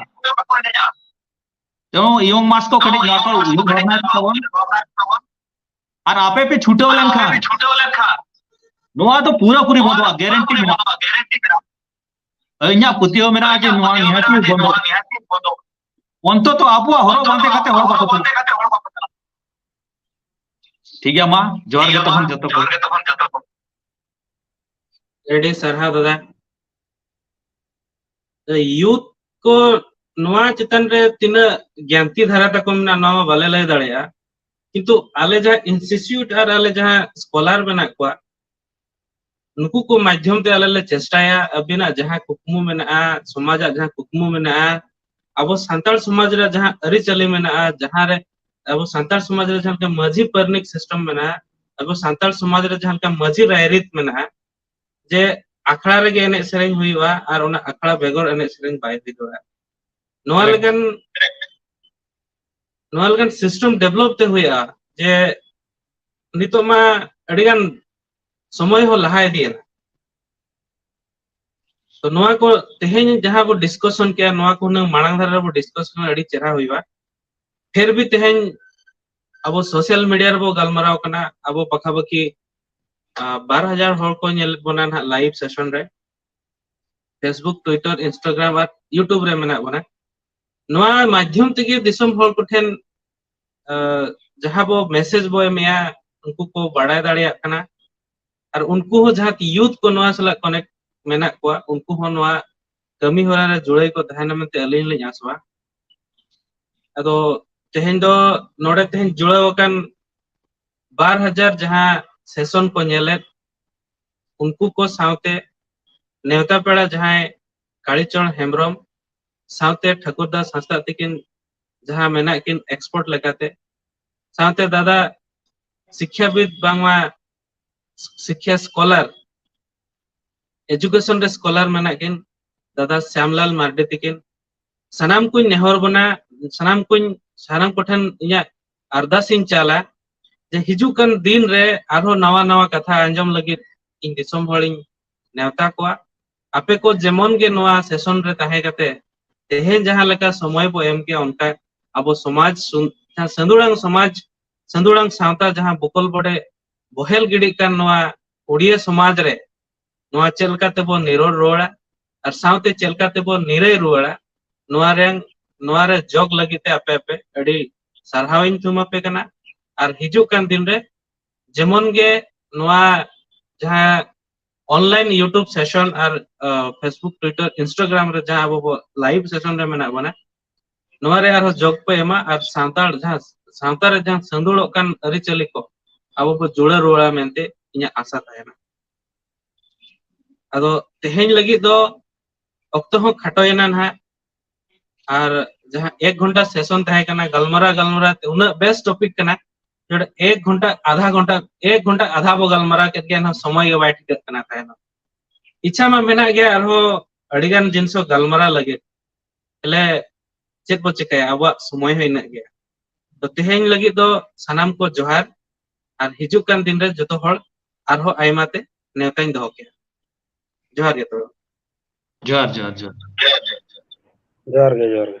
ᱮᱵᱚᱝ ᱤᱭᱚᱝ ᱢᱟᱥ ᱠᱚ ᱠᱟᱹᱴᱤᱡ ᱱᱚᱣᱟ ᱠᱚ ᱩᱭᱦᱟᱹᱨ ᱵᱷᱟᱵᱽᱱᱟᱭ ᱛᱟᱵᱚᱱ ᱟᱨ ᱟᱯᱮ ᱯᱮ ᱪᱷᱩᱴᱟᱹᱣ ᱞᱮᱱᱠᱷᱟᱱ ᱱᱚᱣᱟ ᱫᱚ ᱯᱩᱨᱟᱹ ᱯᱩᱨᱤ ᱵᱚᱱᱫᱚᱜᱼᱟ ᱜᱮᱨᱮᱱᱴᱤ ᱢᱮᱱᱟᱜᱼᱟ ᱤᱧᱟᱹᱜ ᱯᱟᱹᱛᱭᱟᱹᱣ ᱢᱮᱱᱟᱜᱼᱟ ᱡᱮ ᱱᱚᱣᱟ ᱱᱤᱦᱟᱹᱛ ᱵᱚᱱᱫᱚᱜᱼᱟ ᱚᱱᱛᱚᱛᱚ ᱟᱵᱚᱣᱟᱜ ᱦᱚᱨᱚᱜ ᱵᱟᱸᱫᱮ ᱠᱟᱛᱮ ᱦᱚᱲ ᱵᱟᱠᱚ ᱪᱟᱞᱟᱜᱼᱟ ᱴᱷᱤᱠ ᱜᱮᱭᱟ ᱢᱟ ᱡᱚᱦᱟᱨ ᱜᱮ ᱛᱚᱠᱷᱚᱱ ᱡᱚᱛᱚ ᱠᱚ ᱟᱹᱰᱤ ᱥᱟᱨᱦᱟᱣ ᱫᱟᱫᱟ ᱭᱩᱛ ᱠᱚ ᱱᱚᱣᱟ ᱪᱮᱛᱟᱱ ᱨᱮ ᱛᱤᱱᱟᱹᱜ ᱜᱮᱱᱛᱤ ᱫᱷᱟᱨᱟ ᱛᱟᱠᱚ ᱢᱮᱱᱟᱜᱼᱟ ᱱᱚᱣᱟ ᱵᱟᱞᱮ ᱞᱟᱹᱭ ᱫᱟᱲᱮᱭᱟᱜᱼᱟ ᱠᱤᱱᱛᱩ ᱟᱞᱮ ᱡᱟᱦᱟᱸ ᱤᱱᱥᱴᱤᱴᱤᱭᱩᱴ ᱟᱨ ᱟᱞᱮ ᱡᱟᱦᱟᱸ ᱥᱠᱚᱞᱟᱨ ᱢᱮᱱᱟᱜ ᱠᱚᱣᱟ ᱱᱩᱠᱩ ᱠᱚ ᱢᱟᱫᱽᱫᱷᱚᱢ ᱛᱮ ᱟᱞᱮ ᱞᱮ ᱪᱮᱥᱴᱟᱭᱟ ᱟᱹᱵᱤᱱᱟᱜ ᱡᱟᱦᱟᱸ ᱠᱩᱠᱢᱩ ᱢᱮᱱᱟᱜᱼᱟ ᱥᱚᱢᱟᱡᱟᱜ ᱡᱟᱦᱟᱸ ᱠᱩᱠᱢᱩ ᱢᱮᱱᱟᱜᱼᱟ ᱟᱵᱚ ᱥᱟᱱᱛᱟᱲ ᱥᱚᱢᱟᱡᱽ ᱨᱮ ᱡᱟᱦᱟᱸ ᱟᱹᱨᱤᱪᱟᱹᱞᱤ ᱢᱮᱱᱟᱜᱼᱟ ᱡᱟᱦᱟᱸ ᱨᱮ ᱟᱵᱚ ᱥᱟᱱᱛᱟᱲ ᱥᱚᱢᱟᱡᱽ ᱨᱮ ᱡᱟᱦᱟᱸ ᱞᱮᱠᱟ ᱢᱟᱹᱡᱷᱤ ᱯᱟᱨᱟᱱᱤᱠ ᱥᱤᱥᱴᱮᱢ ᱢᱮᱱᱟᱜᱼᱟ ᱟᱵᱚ ᱥᱟᱱᱛᱟᱲ ᱥᱚᱢᱟᱡᱽ ᱨᱮ ᱡᱟᱦᱟᱸ ᱞᱮᱠᱟ ᱢᱟᱹᱡᱷᱤ ᱨᱟᱭᱨᱤᱛ ᱢᱮᱱᱟᱜᱼᱟ ᱡᱮ ᱟᱠᱷᱲᱟ ᱨᱮᱜᱮ ᱮᱱᱮᱡ ᱥᱮᱨᱮᱧ ᱦᱩᱭᱩᱜᱼᱟ ᱟᱨ ᱚᱱᱟ ᱟᱠᱷᱲᱟ ᱵᱮᱜᱚᱨ ᱮᱱᱮᱡ ᱥᱮᱨᱮᱧ ᱵᱟᱭ ᱦᱩᱭ ᱫᱟᱲᱮᱭᱟᱜᱼᱟ ᱱᱚᱣᱟ ᱮᱠᱫᱚᱢ ᱞᱮᱠᱟᱱ ᱱᱚᱣᱟ ᱞᱮᱠᱟᱱ ᱥᱤᱥᱴᱮᱢ ᱰᱮᱵᱷᱞᱚᱯ ᱛᱮ ᱦᱩᱭᱩᱜᱼᱟ ᱡᱮ ᱱᱤᱛᱚᱜ ᱢᱟ ᱟᱹᱰᱤ ᱜᱟᱱ ᱥᱚᱢᱚᱭ ᱦᱚᱸ ᱞᱟᱦᱟ ᱤᱫᱤᱭᱮᱱᱟ ᱛᱚ ᱱᱚᱣᱟ ᱠᱚ ᱛᱮᱦᱮᱧ ᱡᱟᱦᱟᱸ ᱵᱚ ᱰᱤᱥᱠᱚᱥᱚᱱ ᱠᱮᱭᱟ ᱱᱚᱣᱟ ᱠᱚ ᱦᱩᱱᱟᱹᱝ ᱢᱟᱲᱟᱝ ᱫᱷᱟᱨᱟ ᱨᱮᱵᱚ ᱰᱤᱥᱠᱚᱥᱚᱱ ᱟᱹᱰᱤ ᱪᱮᱦᱨᱟ ᱦᱩᱭᱩᱜᱼᱟ ᱯᱷᱤᱨ ᱵᱷᱤ ᱛᱮᱦᱮᱧ ᱟᱵᱚ ᱥᱳᱥᱟᱞ ᱢᱤᱰᱤᱭᱟ ᱨᱮᱵᱚ ᱜᱟᱞᱢᱟᱨᱟᱣ ᱠᱟᱱᱟ ᱟᱵᱚ ᱯᱟᱠᱷᱟ ᱯᱟᱠᱷᱤ ᱵᱟᱨ ᱦᱟᱡᱟᱨ ᱦᱚᱲ ᱠᱚ ᱧᱮᱞ ᱵᱚᱱᱟ ᱱᱟᱦᱟᱜ ᱞᱟᱭᱤᱵᱷ ᱥᱮᱥᱚᱱ ᱨᱮ ᱯᱷᱮᱥᱵᱩᱠ ᱴᱩᱭᱴᱟᱨ ᱤᱱᱥᱴᱟᱜᱨᱟᱢ ᱟᱨ ᱤᱭᱩᱴᱩᱵᱽ ᱨᱮ ᱢᱮᱱᱟᱜ ᱵᱚᱱᱟ ᱱᱚᱣᱟ ᱢᱟᱫᱽᱫᱷᱚᱢ ᱛᱮᱜᱮ ᱫᱤᱥᱚᱢ ᱦᱚᱲ ᱠᱚᱴᱷᱮᱱ ᱡᱟᱦᱟᱸ ᱵᱚ ᱢᱮᱥᱮᱡᱽ ᱵᱚ ᱮᱢᱮᱜᱼᱟ ᱩᱱᱠᱩ ᱠᱚ ᱵᱟᱲᱟᱭ ᱫᱟᱲᱮᱭᱟᱜ ᱠᱟᱱᱟ ᱟᱨ ᱩᱱᱠᱩ ᱦᱚᱸ ᱡᱟᱦᱟᱸ ᱭᱩᱛᱷ ᱠᱚ ᱱᱚᱣᱟ ᱥᱟᱞᱟᱜ ᱠᱚᱱᱮᱠᱴ ᱢᱮᱱᱟᱜ ᱠᱚᱣᱟ ᱩᱱᱠᱩ ᱦᱚᱸ ᱱᱚᱣᱟ ᱠᱟᱹᱢᱤ ᱦᱚᱨᱟ ᱨᱮ ᱡᱩᱲᱟᱹᱭ ᱠᱚ ᱛᱟᱦᱮᱱᱟ ᱢᱮᱱᱛᱮ ᱟᱹᱞᱤᱧ ᱞᱤᱧ ᱟᱥᱚᱜᱼᱟ ᱟᱫᱚ ᱛᱮᱦᱮᱧ ᱫᱚ ᱱᱚᱰᱮ ᱛᱮᱦᱮᱧ ᱡᱩᱲᱟᱹᱣ ᱟᱠᱟᱱ ᱵᱟᱨ ᱦᱟᱡᱟᱨ ᱡᱟᱦᱟᱸ ᱥᱮᱥᱚᱱ ᱠᱚ ᱧᱮᱞᱮᱫ ᱩᱱᱠᱩ ᱠᱚ ᱥᱟᱶᱛᱮ ᱱᱮᱣᱛᱟ ᱯᱮᱲᱟ ᱡᱟᱦᱟᱸᱭ ᱠᱟᱲᱤᱪᱚᱨ ᱦᱮᱢᱵᱨᱚᱢ ᱥᱟᱶᱛᱮ ᱴᱷᱟᱹᱠᱩᱨ ᱫᱟᱥ ᱦᱟᱸᱥᱫᱟᱜ ᱛᱤᱠᱤᱱ ᱡᱟᱦᱟᱸ ᱢᱮᱱᱟᱜ ᱠᱤᱱ ᱮᱠᱥᱯᱚᱨᱴ ᱞᱮᱠᱟᱛᱮ ᱥᱟᱶᱛᱮ ᱫᱟᱫᱟ ᱥᱤᱠᱠᱷᱟᱵᱤᱫ ᱵᱟᱝᱢᱟ ᱥᱤᱠᱷᱭᱟ ᱥᱠᱚᱞᱟᱨ ᱮᱡᱩᱠᱮᱥᱚᱱ ᱨᱮ ᱥᱠᱚᱞᱟᱨ ᱢᱮᱱᱟᱜ ᱠᱤᱱ ᱫᱟᱫᱟ ᱥᱭᱟᱢᱞᱟᱞ ᱢᱟᱨᱰᱤ ᱛᱤᱠᱤᱱ ᱥᱟᱱᱟᱢ ᱠᱩᱧ ᱱᱮᱦᱚᱨ ᱵᱚᱱᱟ ᱥᱟᱱᱟᱢ ᱠᱩᱧ ᱥᱟᱱᱟᱢ ᱠᱚᱴᱷᱮᱱ ᱤᱧᱟᱹᱜ ᱟᱨᱫᱟᱥ ᱤᱧ ᱪᱟᱞᱟ ᱡᱮ ᱦᱤᱡᱩᱜ ᱠᱟᱱ ᱫᱤᱱ ᱨᱮ ᱟᱨᱦᱚᱸ ᱱᱟᱣᱟ ᱱᱟᱣᱟ ᱠᱟᱛᱷᱟ ᱟᱸᱡᱚᱢ ᱞᱟᱹᱜᱤᱫ ᱤᱧ ᱫᱤᱥᱚᱢ ᱦᱚᱲᱤᱧ ᱱᱮᱣᱛᱟ ᱠᱚᱣᱟ ᱟᱯᱮ ᱠᱚ ᱡᱮᱢᱚᱱ ᱜᱮ ᱱᱚᱣᱟ ᱥᱮᱥᱚᱱ ᱨᱮ ᱛᱟᱦᱮᱸ ᱠᱟᱛᱮ ᱛᱮᱦᱮᱧ ᱡᱟᱦᱟᱸ ᱞᱮᱠᱟ ᱥᱚᱢᱚᱭ ᱵᱚ ᱮᱢ ᱠᱮᱭᱟ ᱚᱱᱠᱟ ᱟᱵᱚ ᱥᱚᱢᱟᱡᱽ ᱥᱟᱹᱫᱩᱲᱟᱝ ᱥᱚᱢᱟᱡᱽ ᱥᱟᱹᱫᱩᱲᱟᱝ ᱥᱟᱶᱛᱟ ᱡᱟᱦᱟᱸ ᱵᱚᱠᱚᱞ ᱵᱚᱰᱮ ᱵᱚᱦᱮᱞ ᱜᱤᱰᱤᱜ ᱠᱟᱱ ᱱᱚᱣᱟ ᱩᱲᱤᱭᱟᱹ ᱥᱚᱢᱟᱡᱽ ᱨᱮ ᱱᱚᱣᱟ ᱪᱮᱫ ᱞᱮᱠᱟ ᱛᱮᱵᱚᱱ ᱱᱤᱨᱚᱲ ᱨᱩᱣᱟᱹᱲᱟ ᱟᱨ ᱥᱟᱶᱛᱮ ᱪᱮᱫ ᱞᱮᱠᱟ ᱛᱮᱵᱚᱱ ᱱᱤᱨᱟᱹᱭ ᱨᱩᱣᱟᱹᱲᱟ ᱱᱚᱣᱟ ᱨᱮ ᱱᱚᱣᱟ ᱨᱮ ᱡᱚᱜᱽ ᱞᱟᱹᱜᱤᱫ ᱛᱮ ᱟᱯᱮ ᱟᱯᱮ ᱟᱹᱰᱤ ᱥᱟᱨᱦᱟᱣ ᱤᱧ ᱛᱷᱩᱢ ᱟᱯᱮ ᱠᱟᱱᱟ ᱟᱨ ᱦᱤᱡᱩᱜ ᱠᱟᱱ ᱫᱤᱱ ᱨᱮ ᱡᱮᱢᱚᱱ ᱜᱮ ᱱᱚᱣᱟ ᱡᱟᱦᱟᱸ ᱚᱱᱞᱟᱭᱤᱱ ᱤᱭᱩᱴᱩᱵᱽ ᱥᱮᱥᱚᱱ ᱟᱨ ᱯᱷᱮᱥᱵᱩᱠ ᱴᱩᱭᱴᱟᱨ ᱤᱱᱥᱴᱟᱜᱨᱟᱢ ᱨᱮ ᱡᱟᱦᱟᱸ ᱟᱵᱚ ᱵᱚ ᱞᱟᱭᱤᱵᱷ ᱥᱮᱥᱚᱱ ᱨᱮ ᱢᱮᱱᱟᱜ ᱵᱚᱱᱟ ᱱᱚᱣᱟ ᱨᱮ ᱟᱨᱦᱚᱸ ᱡᱚᱜᱽ ᱯᱮ ᱮᱢᱟ ᱟᱨ ᱥᱟᱱᱛᱟᱲ ᱡᱟᱦᱟᱸ ᱥᱟᱶᱛᱟ ᱨᱮ ᱡᱟᱦᱟᱸ ᱥᱤᱸᱫᱩᱲᱚᱜ ᱠᱟᱱ ᱟᱹᱨᱤᱪᱟᱹᱞᱤ ᱠᱚ ᱟᱵᱚ ᱵᱚ ᱡᱩᱲᱟᱹ ᱨᱩᱣᱟᱹᱲᱟ ᱢᱮᱱᱛᱮ ᱤᱧᱟᱹᱜ ᱟᱥᱟ ᱛᱟᱦᱮᱱᱟ ᱟᱫᱚ ᱛᱮᱦᱮᱧ ᱞᱟᱹᱜᱤᱫ ᱫᱚ ᱚᱠᱛᱚ ᱦᱚᱸ ᱠᱷᱟᱴᱚᱭᱮᱱᱟ ᱱᱟᱦᱟᱜ ᱟᱨ ᱡᱟᱦᱟᱸ ᱮᱠ ᱜᱷᱚᱱᱴᱟ ᱥᱮᱥᱚᱱ ᱛᱟᱦᱮᱸ ᱠᱟᱱᱟ ᱜᱟᱞᱢᱟᱨᱟᱣ ᱜᱟᱞᱢᱟᱨᱟᱣ ᱛᱮ ᱩᱱᱟᱹᱜ ᱵᱮᱥ ᱴᱚᱯᱤᱠ ᱠᱟᱱᱟ ᱱᱚᱰᱮ ᱮᱠ ᱜᱷᱚᱱᱴᱟ ᱟᱫᱷᱟ ᱜᱷᱚᱱᱴᱟ ᱮᱠ ᱜᱷᱚᱱᱴᱟ ᱟᱫᱷᱟ ᱵᱚ ᱜᱟᱞᱢᱟᱨᱟᱣ ᱠᱮᱫ ᱜᱮᱭᱟ ᱮᱱᱦᱚᱸ ᱥᱚᱢᱚᱭ ᱜᱮ ᱵᱟᱭ ᱴᱷᱤᱠᱟᱹᱜ ᱠᱟᱱᱟ ᱛᱟᱦᱮᱱᱚᱜ ᱤᱪᱪᱷᱟ ᱢᱟ ᱢᱮᱱᱟᱜ ᱜᱮᱭᱟ ᱟᱨᱦᱚᱸ ᱟᱹᱰᱤᱜᱟᱱ ᱡᱤᱱᱤᱥ ᱦᱚᱸ ᱜᱟᱞᱢᱟᱨᱟᱣ ᱞᱟᱹᱜᱤᱫ ᱛᱟᱦᱚᱞᱮ ᱪᱮᱫ ᱵᱚ ᱪᱮᱠᱟᱭᱟ ᱟᱵᱚᱣᱟᱜ ᱥᱚᱢᱚᱭ ᱦᱚᱸ ᱤᱱᱟᱹᱜ ᱜᱮᱭᱟ ᱛᱚ ᱛᱮᱦᱮᱧ ᱞᱟᱹᱜᱤᱫ ᱫᱚ ᱥᱟᱱᱟᱢ ᱠᱚ ᱡᱚᱦᱟᱨ ᱟᱨ ᱦᱤᱡᱩᱜ ᱠᱟᱱ ᱫᱤᱱ ᱨᱮ ᱡᱚᱛᱚ ᱦᱚᱲ ᱟᱨᱦᱚᱸ ᱟᱭᱢᱟ ᱛᱮ ᱱᱮᱣᱛᱟᱧ ᱫᱚᱦᱚ ᱠᱮᱫᱼᱟ ᱡᱚᱦᱟᱨ ᱜᱮ ᱛᱚᱵᱮ ᱡᱚᱦᱟᱨ ᱡᱚᱦᱟᱨ ᱡᱚᱦᱟᱨ ᱡᱚᱦᱟᱨ ᱜᱮ ᱡᱚᱦᱟᱨ ᱜᱮ